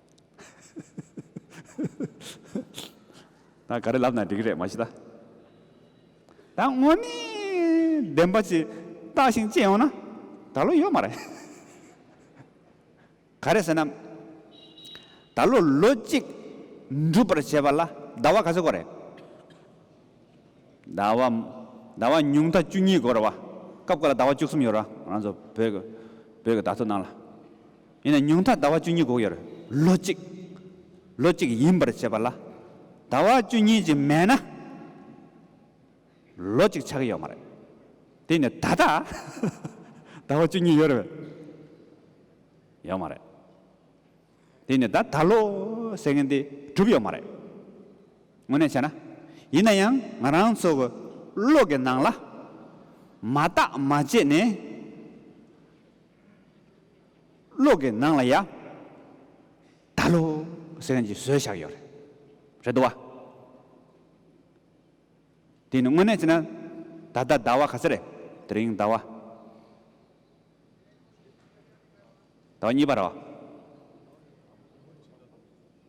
ད་ག་རེ་ལབ་ན་འགྲིག་གི་རེད་མ་གཞི་ད། ད་དངོས་གནས་བདེན་པ་ཅིག་བཏགས་ཤིང་སྤྱད་ཡོང་ན་ད་ལོ་ཡོད་མ་རེད། ག་རེ་ཟེར་ན། ད་ལོ་ལོ་གཅིག་འགྲུབ་པར་བྱས་པ་ལ་ཟླ་བ་ག་ཚོད་འགོར་རེད། ཟླ་བ། ཟླ་བ་ཉུང་མཐའ་བཅུ་གཉིས་འགོར་ར་བ། སྐབས་འགོར་ལ་ཟླ་བ་བཅུ་གསུམ་ཡོད་ར་བ་རང་ཚོ་བོད་ཀྱི་བོད་ཀྱི་བརྡ་ཐོ་ནང་ལ། ཡིན་ན་ཉུང་མཐའ་ཟླ་བ་བཅུ་གཉིས་འགོག་ཡར་ལོ་གཅིག། ལོ་གཅིག་ཡིན་པར་བྱས་པ་ལ། ཟླ་བ་བཅུ་གཉིས་ཀྱི་མེད་ན། ལོ་གཅིག་ཆགས་ཀྱི་ཡོད་མ་རེད། དེ་ནི་ད་ལྟ། ཟླ་བ་བཅུ་གཉིས་ཡོད་རེད། ཡོད་མ་རེད། དེ་ནི་ད་ལྟ་ད་ལོ་ཟེར་མཁན་དེ་གྲུབ་ཡོད་མ་རེད། དངོས་གནས་བྱས་ན། ཡིན་ན་ཡང་ང་རང་ཚོ་གི་བློ་གི་ནང་ལ། མ་བརྟག་མ་དཔྱད་ནས། གློག་གི་ནང་ལ་ཡང་ད་ལོ་ཟེར་མཁན་གྱི་བཟོས་བཞག་ཡོད་རེད། རེད་དོ། དེ་ནི་དངོས་གནས་བྱས་ན་ད་ལྟ་ཟླ་བ་ག་ཚོད་རེད། དེ་རིང་ཟླ་བ། ཟླ་བ་གཉིས་པ་རེད།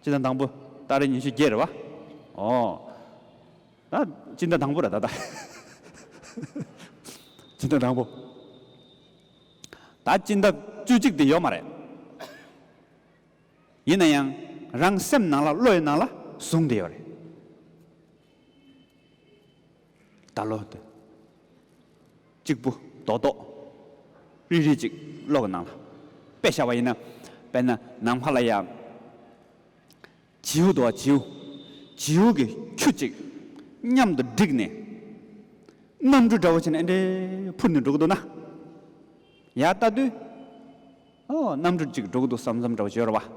སྤྱི་ཟླ་དང་པོ་སྟག་རའི་ཉི་ཤུ་བརྒྱད་རེད་བ། ཨོ། ད་སྤྱི་ཟླ་དང་པོ་རེད་ད། སྤྱི་ཟླ་དང་པོ། ད་སྤྱི་ཟླ་བཅུ་གཅིག་དེ་ཡོད་མ་རེད། ཡིན་ན་ཡང་རང་སེམས་ནང་ལ་བློ་ཡི་ནང་ལ་བཟུང་དེ་ཡོད་རེད། བདག་བློ། གཅིག་པུ་རྡོག་རྡོག། རིལ་རིལ་ཅིག་གློག་གི་ནང་ལ་པད་ཤ་བ་ཡིན། དཔེར་ན་ནམ་མཁའ་ལ་ཡང། བྱིའུ་འདུ་བ་བྱིའུ། བྱིའུ་གི་ཁྱུ་གཅིག་མཉམ་དུ་བསྒྲིགས་ནས། གནམ་གྲུ་འདྲ་བོ་བྱས་ནས་ཨེ་འདྲས་འཕུར་ནས་འགྲོ་གི་འདུག་ན། ཡར་ལྟ་དུས། ཨོ་གནམ་གྲུ་གཅིག་འགྲོ་གི་འདུག་བསམ་བསམ་འདྲ་བོ་བྱོས་རོགས་པ།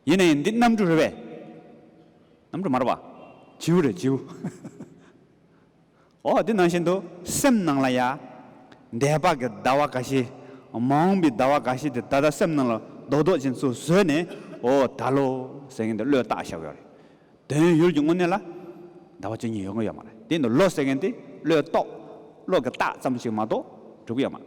ཡེ་ནས་འདི་གནམ་གྲུ་རེད་པས། གནམ་གྲུ་མ་རེད་པ། བྱིའུ་རེད་བྱིའུ། འོ་འདི་ནང་བཞིན་དུ་སེམས་ནང་ལ་ཡ། འདས་དཔག་གི་ཟླ་བ་འགའ་ཞིག། མ་འོངས་པའི་ཟླ་བ་འགའ་ཞིག་དེ་ད་ལྟ་སེམས་ནང་ལ་རྡོག་རྡོག་ཅན་སུ་བཟོས་ནས་འོ་ད་ལོ་ཟེར་མཁན་དེ་བློས་བཏགས་བཞག་གི་ཡོད་རེད། དོན་ཡུལ་གྱི་དངོས་གནས་ལ་ཟླ་བ་བཅུ་གཉིས་ཡོད་མཁན་ཡོད་མ་རེད་དེ་འདི་ལོ་ཟེར་མཁན་དེ་བློས་རྟོགས་བློ་གི་རྟགས་ཙམ་ཞིག་མ་གཏོགས་གྲུབ་ཀྱི་ཡོད་མ་རེད།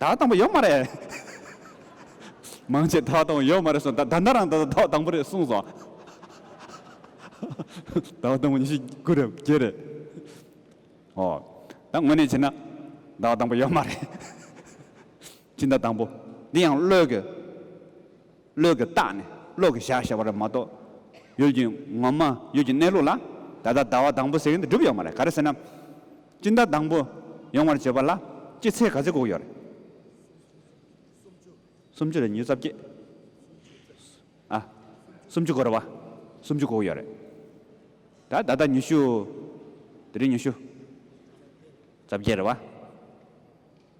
དག་དང་པོ་ཡོད་མ་རེད། མང་ཆེ་དག་དང་པོ་ཡོད་མ་རེད་གསུངས། ད་ལྟ་རང་ད་ལྟ་དག་དང་པོ་རེད་གསུངས་སོང། དག་དང་པོ་ཉི་ཤུ་དགུ་རེད་བརྒྱད་རེད། ཨོ། ད་དངོས་གནས་བྱས་ན། དག་དང་པོ་ཡོད་མ་རེད། ཅི་འདྲ་དང་པོ། འདི་ཡང་བློས་ཀྱི། བློས་ཀྱི་བརྟགས་ནས་བློས་ཀྱི་བཞག་ཞེས་པ་རེད་མ་གཏོགས། ཡུལ་གྱི་ངོ་མ་ཡུལ་གྱི་གནས་ལུགས་ལ། ད་ལྟ་དག་དང་པོ་ཟེར་གྱིན་དུ་གྲུབ་ཡོད་མ་རེད་ག་རེ་ཟེར་ན། སྤྱིན་བདག་དང་པོ་ཡོང་བར་བྱེད་པ་ལ་སྤྱི་ཚེས་ག་ཚོད་བསྒུགས་ཡོད། སུམ་ཅུ་རེ་ཉིས་རྩ་བརྒྱད། ཨ། སུམ་ཅུ་སྒོར་བ་སུམ་ཅུ་བསྒུགས་ཡོད་རེད། ད་ད་ལྟ་ཉི་ཤུ། དེ་རིང་ཉི་ཤུ་རྩ་བརྒྱད་རེད་བ།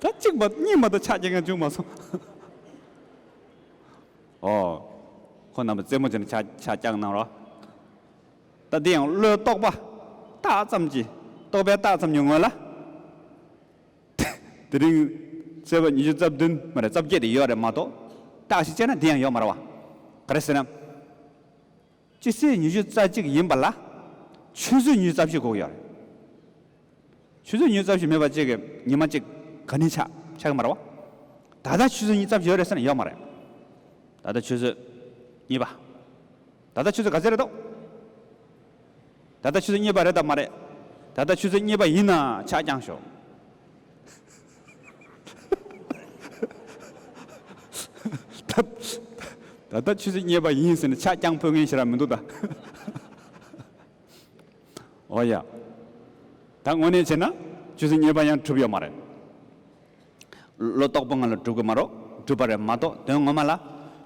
ད་གཅིག་མ་གཉིས་མ་དང་ཆ་རྐྱེན་ཀྱང་བྱུང་མ་སོང། ཨོ། ཁོ་རྣམ་པ་རྩེད་མོ་བྱེད་ན་ཆ་ཆ་རྐྱང་གནང་རོགས། ད་འདི་ཡང་བློའི་རྟོག་པ་རྟགས་ཙམ་གྱིས་རྟོག་པའི་རྟགས་ཙམ་ཉུང་ངུ་ལ། དེ་རིང་བརྩེ་བ་ཉི་ཤུ་རྩ་བདུན་མ་རེད་རྩ་བརྒྱད་དེ་ཡོད་རེད་མ་གཏོགས་རྟགས་ཤིག་དཔྱད་ན་འདི་ཡང་ཡོད་མ་རེད་བ། ག་རེ་ཟེར་ན། སྤྱི་སེར་ཉི་ཤུ་རྩ་གཅིག་ཡིན་པ་ལ། ཆུ་ཚོད་ཉུལ་རྩ་བཞི་གོ་གི་ཡོད་རེད། ཆུ་ཚོད་ཉུལ་རྩ་བཞི་མེད་པ་གཅིག་གི་ཉི་མ་གཅིག་ག་ནས་ཆགས་ཆགས་ཀྱི་མ་རེད་བ། ད་ལྟ་ཆུ་ཚོད་ཉིས་རྩ་བཞི་ཡོད་རེད་ཟེར་ན་ཡོད་མ་རེད། ད་ལྟ་ཆུ་ཚོད་གཉིས་པ། ད་ལྟ་ཆུ་ཚོད་ག་ཚོད་རེད་དོ། ད་ལྟ་ཆུ་ཚོད་གཉིས་པ་རེད་དམ་མ་རེད། ད་ལྟ་ཆུ་ཚོད་གཉིས་པ་ཡིན་ན་ཕྱག་བརྐྱངས་ཤོག། ད་ལྟ་ཆུ་ཚོད་གཉིས་པ་ཡིན་ཟེར་ནས་ཕྱག་བརྐྱངས་ཕོད་མཁན་ཞིག་རག་མི་འདུག་ད། ཨོ་ཡ། ད་དངོས་གནས་བྱས་ན་ཆུ་ཚོད་གཉིས་པ་ཡང་གྲུབ་ཡོད་མ་རེད། ལོ་རྟོགས་པོ་ང་ལ་གྲུབ་གི་མ་རོག་གྲུབ་པ་རེད་མ་གཏོགས་དོན་ངོ་མ་ལ་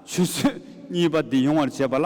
ཆུ་ཚོད་གཉིས་པ་འདི་ཡོང་བར་བྱས་པ་ལ།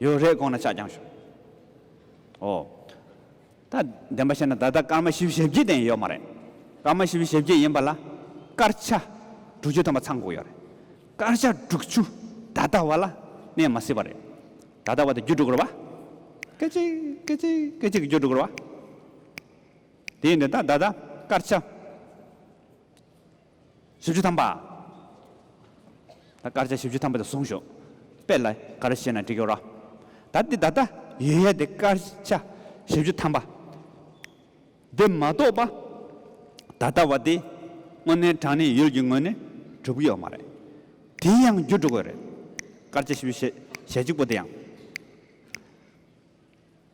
ཡོད་རེད་དགོངས་ན་ཕྱག་བརྐྱང་ཞུ། ཨོ། ད་བདེན་པ་ཤེས་ན་ད་ལྟ་སྐར་མ་བཞི་བཞི་བརྒྱད་བརྒྱད་ཡོད་མ་རེད། སྐར་མ་བཞི་བཞི་བརྒྱད་ཡིན་པ་ལ་སྐར་ཆ་དྲུག་ཅུ་ཐམ་པ་ཚང་འགོག་ཡོད་རེད། སྐར་ཆ་དྲུག་ཅུ་ད་ལྟ་བ་ལ་གནས་མ་སྲིད་པ་རེད། ད་ལྟ་བ་དེ་རྒྱུ་དྲུག་རེད་བ། སྐད་ཅིག་སྐད་ཅིག་སྐད་ཅིག་གི་རྒྱུ་དྲུག་རེད་བ། དེ་ཡིན་དུས་ད་ལྟ་སྐར་ཆ། བཞི་བཅུ་ཐམ་པ། ད་དཀར་ཆ་བཞི་བཅུ་ཐམ་པ་དེ་བཟུང་ཞོག། དཔེ་ལ་དཀར་བཤད་ན་འགྲིག་གི་རོ། ད་འདི་ད་ལྟ་ཡོད་ཡ་དེ་དཀར་ཆ་བཞི་བཅུ་ཐམ་པ། དེ་མ་གཏོགས་པ་ད་ལྟ་བ་དེ་དངོས་གནས་དྲང་གནས་ཡུལ་གྱི་ངོས་ནས་གྲུབ་ཀྱི་ཡོད་མ་རེད། དེའི་ཡང་རྒྱུ་འགྲོ་དགོས་རེད། དཀར་ཆ་བཞི་བཅུ་ཞེ་གཅིག་པོ་དེ་ཡང།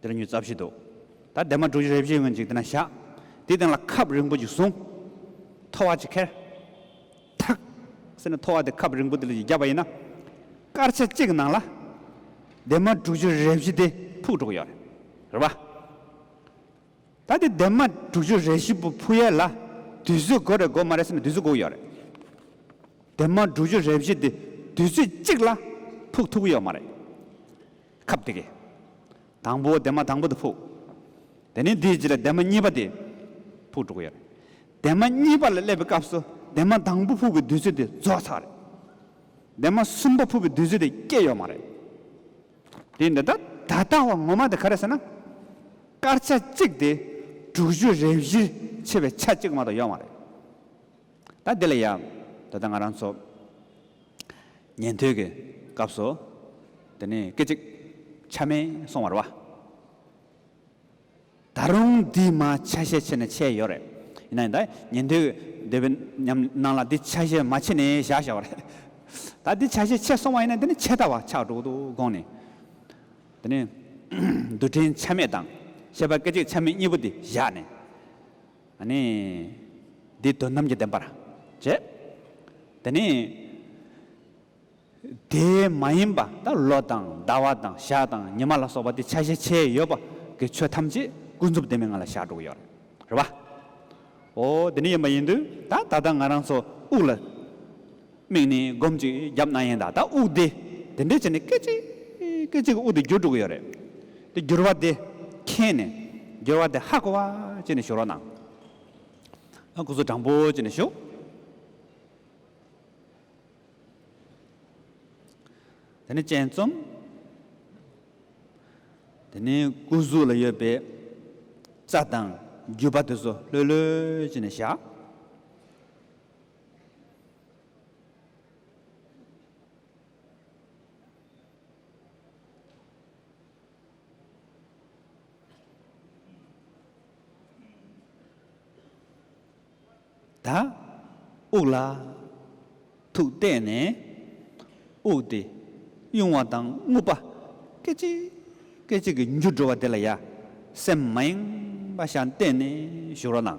འདི་ལ་མྱུར་རྩ་བཞི་འདུག། ད་ལྡེ་མ་དྲུག་ཅུ་རེ་བཞི་ཡོང་ཅིག་དེ་ན་བཞག། དེའི་སྟེང་ལ་ཁབ་རིང་པོ་ཅིག་བཟུང། ཐོ་བ་ཅིག་ཁྱེར། ཐག། ཟེར་ནས་ཐོ་བ་དེ་ཁབ་རིང་པོ་དེ་ལ་ཅིག་བརྒྱབ་པ་ཡིན་ན། སྐར་ཆ་གཅིག་གི་ནང་ལ། ལྡེ་མ་དྲུག་ཅུ་རེ་བཞི་དེ་ཕུག་འགྲོ་གི་ཡོད་རེད། རེད་པ། ད་དེ་ལྡེ་མ་དྲུག་ཅུ་རེ་བཞི་པོ་ཕུག་ཡས་ལ། དུས་ཚོད་དགོས་རེད་དགོས་མ་རེད་ཟེར་ནས་དུས་ཚོད་དགོས་ཀྱི་ཡོད་རེད། ལྡེ་མ་དྲུག་ཅུ་རེ་བཞི་དེ་དུས་ཚོད་གཅིག་ལ་ཕུག་ཐུབ་ཀྱི་ཡོད་མ་རེད། ཁབ་དེ་གས། དང་པོ་འདན་མ་དང་པོ་དེ་ཕུག། དེ་ནས་དེའི་རྗེས་ལ་འདན་མ་གཉིས་པ་དེ་ཕུག་འགྲོ་གི་ཡོད་རེད། འདན་མ་གཉིས་པ་ལ་སླེབས་པའི་སྐབས་སུ་འདན་མ་དང་པོ་ཕུག་གི་དུས་ཚོད་དེ་རྫོགས་ཚར་རེད། འདན་མ་གསུམ་པ་ཕུག་གི་དུས་ཚོད་དེ་སྐྱེས་ཡོད་མ་རེད། དེ་འདི་ལྟར། ད་ལྟ་བ་ངོ་མ་དེ་ག་རེད་ཟེར་ན། སྐར་ཆ་གཅིག་དེ་དྲུག་ཅུ་རེ་བཞིར་ཕྱེ་བའི་ཆ་གཅིག་མ་གཏོགས་ཡོད་མ་རེད། ད་འདི་ལ་ཡག། ད་ལྟ་ང་རང་ཚོ་ཉན་ཐོས་ཀྱི་སྐབས་སུ་འདི་ནས་སྐད་ཅིག་ཆ་མེད་སོང་བར་བ། ད་རུང་འདིས་མ་ཆ་ཤས་ཆེ་ནས་ཆད་ཡོད་རེད། ཡིན་ན་ཡང་ད་ཉན་ཐོས་ཀྱི་འདོད་པའི་ཉམས་སྣང་ལ་འདི་ཆ་ཤས་མ་ཆེ་ནས་བཞག་བཞག་བ་རེད། ད་འདི་ཆ་ཤས་ཆེ་སོང་བ་ཡིན་ན་འདི་ནས་ཆད་ད་བ་ཆགས་འགྲོ་གི་འདུག་དགོངས་ནས། འདི་ནས་རྡུལ་ཕྲན་ཆ་མེད་དང་ཤེས་པ་སྐད་ཅིག་ཆ་མེད་གཉིས་པོ་འདི་བཞག་ནས། ནི། འདི་དོན་རྣམས་ཀྱི་བདེན་པར་བྱེད། དེ་ནི། དེ་མ་ཡིན་པ་ད་ལོ་དང་ཟླ་བ་དང་ཞག་དང་ཉི་མ་ལ་སོགས་པ་དེ་ཆ་ཤས་ཆེ་ཡོད་པ་གི་ཆོས་ཐམས་ཅད་ཀུན་རྫོབ་བདེན་མེད་ང་ལ་ཞག་དྲུག་ཡོད་རེད་པ། འོ་དེ་ནི་ཡིན་པ་ཡིན་དུས་ད་ད་ལྟ་ང་རང་ཚོ་དབུགས་ལ། མིག་ནི་སྒོམ་གཅིག་རྒྱབ་རྣ་ཡན་དང་ད་དབུགས་བདེ། དེ་འདྲའི་ཆ་ནས་སྐད་ཅིག་སྐད་ཅིག་གི་དབུགས་དེ་འགྱུར་འགྲོ་གི་ཡོད་རེད། དེ་འགྱུར་བ་དེ་མཁྱེན་ནས་འགྱུར་བ་དེ་ཧ་གོ་བ་ཅི་ནས་ཞུ་རོགས་གནང། ཨ་ཁུ་ཚུར་དྲང་པོ་ཅི་ནས་ཞུ། དེ་ནི་སྤྱན་རྩོམ། དེ་ནི་སྐུ་གཟུགས་ལ་ཡོད་པའི་རྩ་དང་རྒྱུས་པ་དེ་ཚོ་ལྷོད་ལྷོད་ཅི་ནས་བཞག། དག། དབུགས་ལ་ཐུག་བལྟས་ནས་དབུགས་དེ་དབྱུང་བ་དང་རྔུབ་པ་སྐད་ཅིག་སྐད་ཅིག་གིས་འགྱུར་འགྲོ་བ་དེ་ལ་ཡ་སེམས་མ་ཡེངས་པ་བཞག་བལྟས་ནས་བཞུར་བ་དང།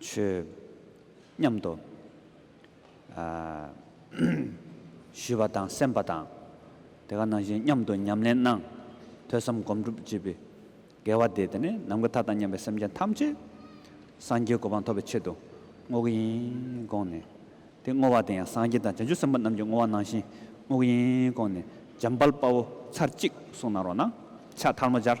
བྱོས། སྙམ་དུ། ཞུས་པ་དང་སེམས་པ་དང། དེ་ག་ནང་བཞིན་སྙམ་དུ་ཉམས་ལེན་གནང། ཐོས་བསམ་སྒོམ་སྒྲུབ་བགྱིས་པས། དགེ་བ་དེས་དེ་ནས་ནམ་མཁའི་མཐའ་དང་མཉམ་པའི་སེམས་ཅན་ཐམས་ཅད་སངས་རྒྱས་གོ་འཕང་ཐོབ་པའི་ཆེད་དུ་བསྔོ་གི་ཡིན་དགོངས་ནས། དེ་བསྔོ་བ་དེ་ཡང་སངས་རྒྱས་དང་བྱང་ཆུབ་སེམས་དཔའ་རྣམས་ཀྱི་བསྔོ་བ་ནང་བཞིན་བསྔོ་གི་ཡིན་དགོངས་ནས་འཇམ་དཔལ་དཔའ་བོ་ཚར་གཅིག་གསུང་གནང་རོགས་གནང། ཕྱག་ཐལ་མོ་སྦྱར།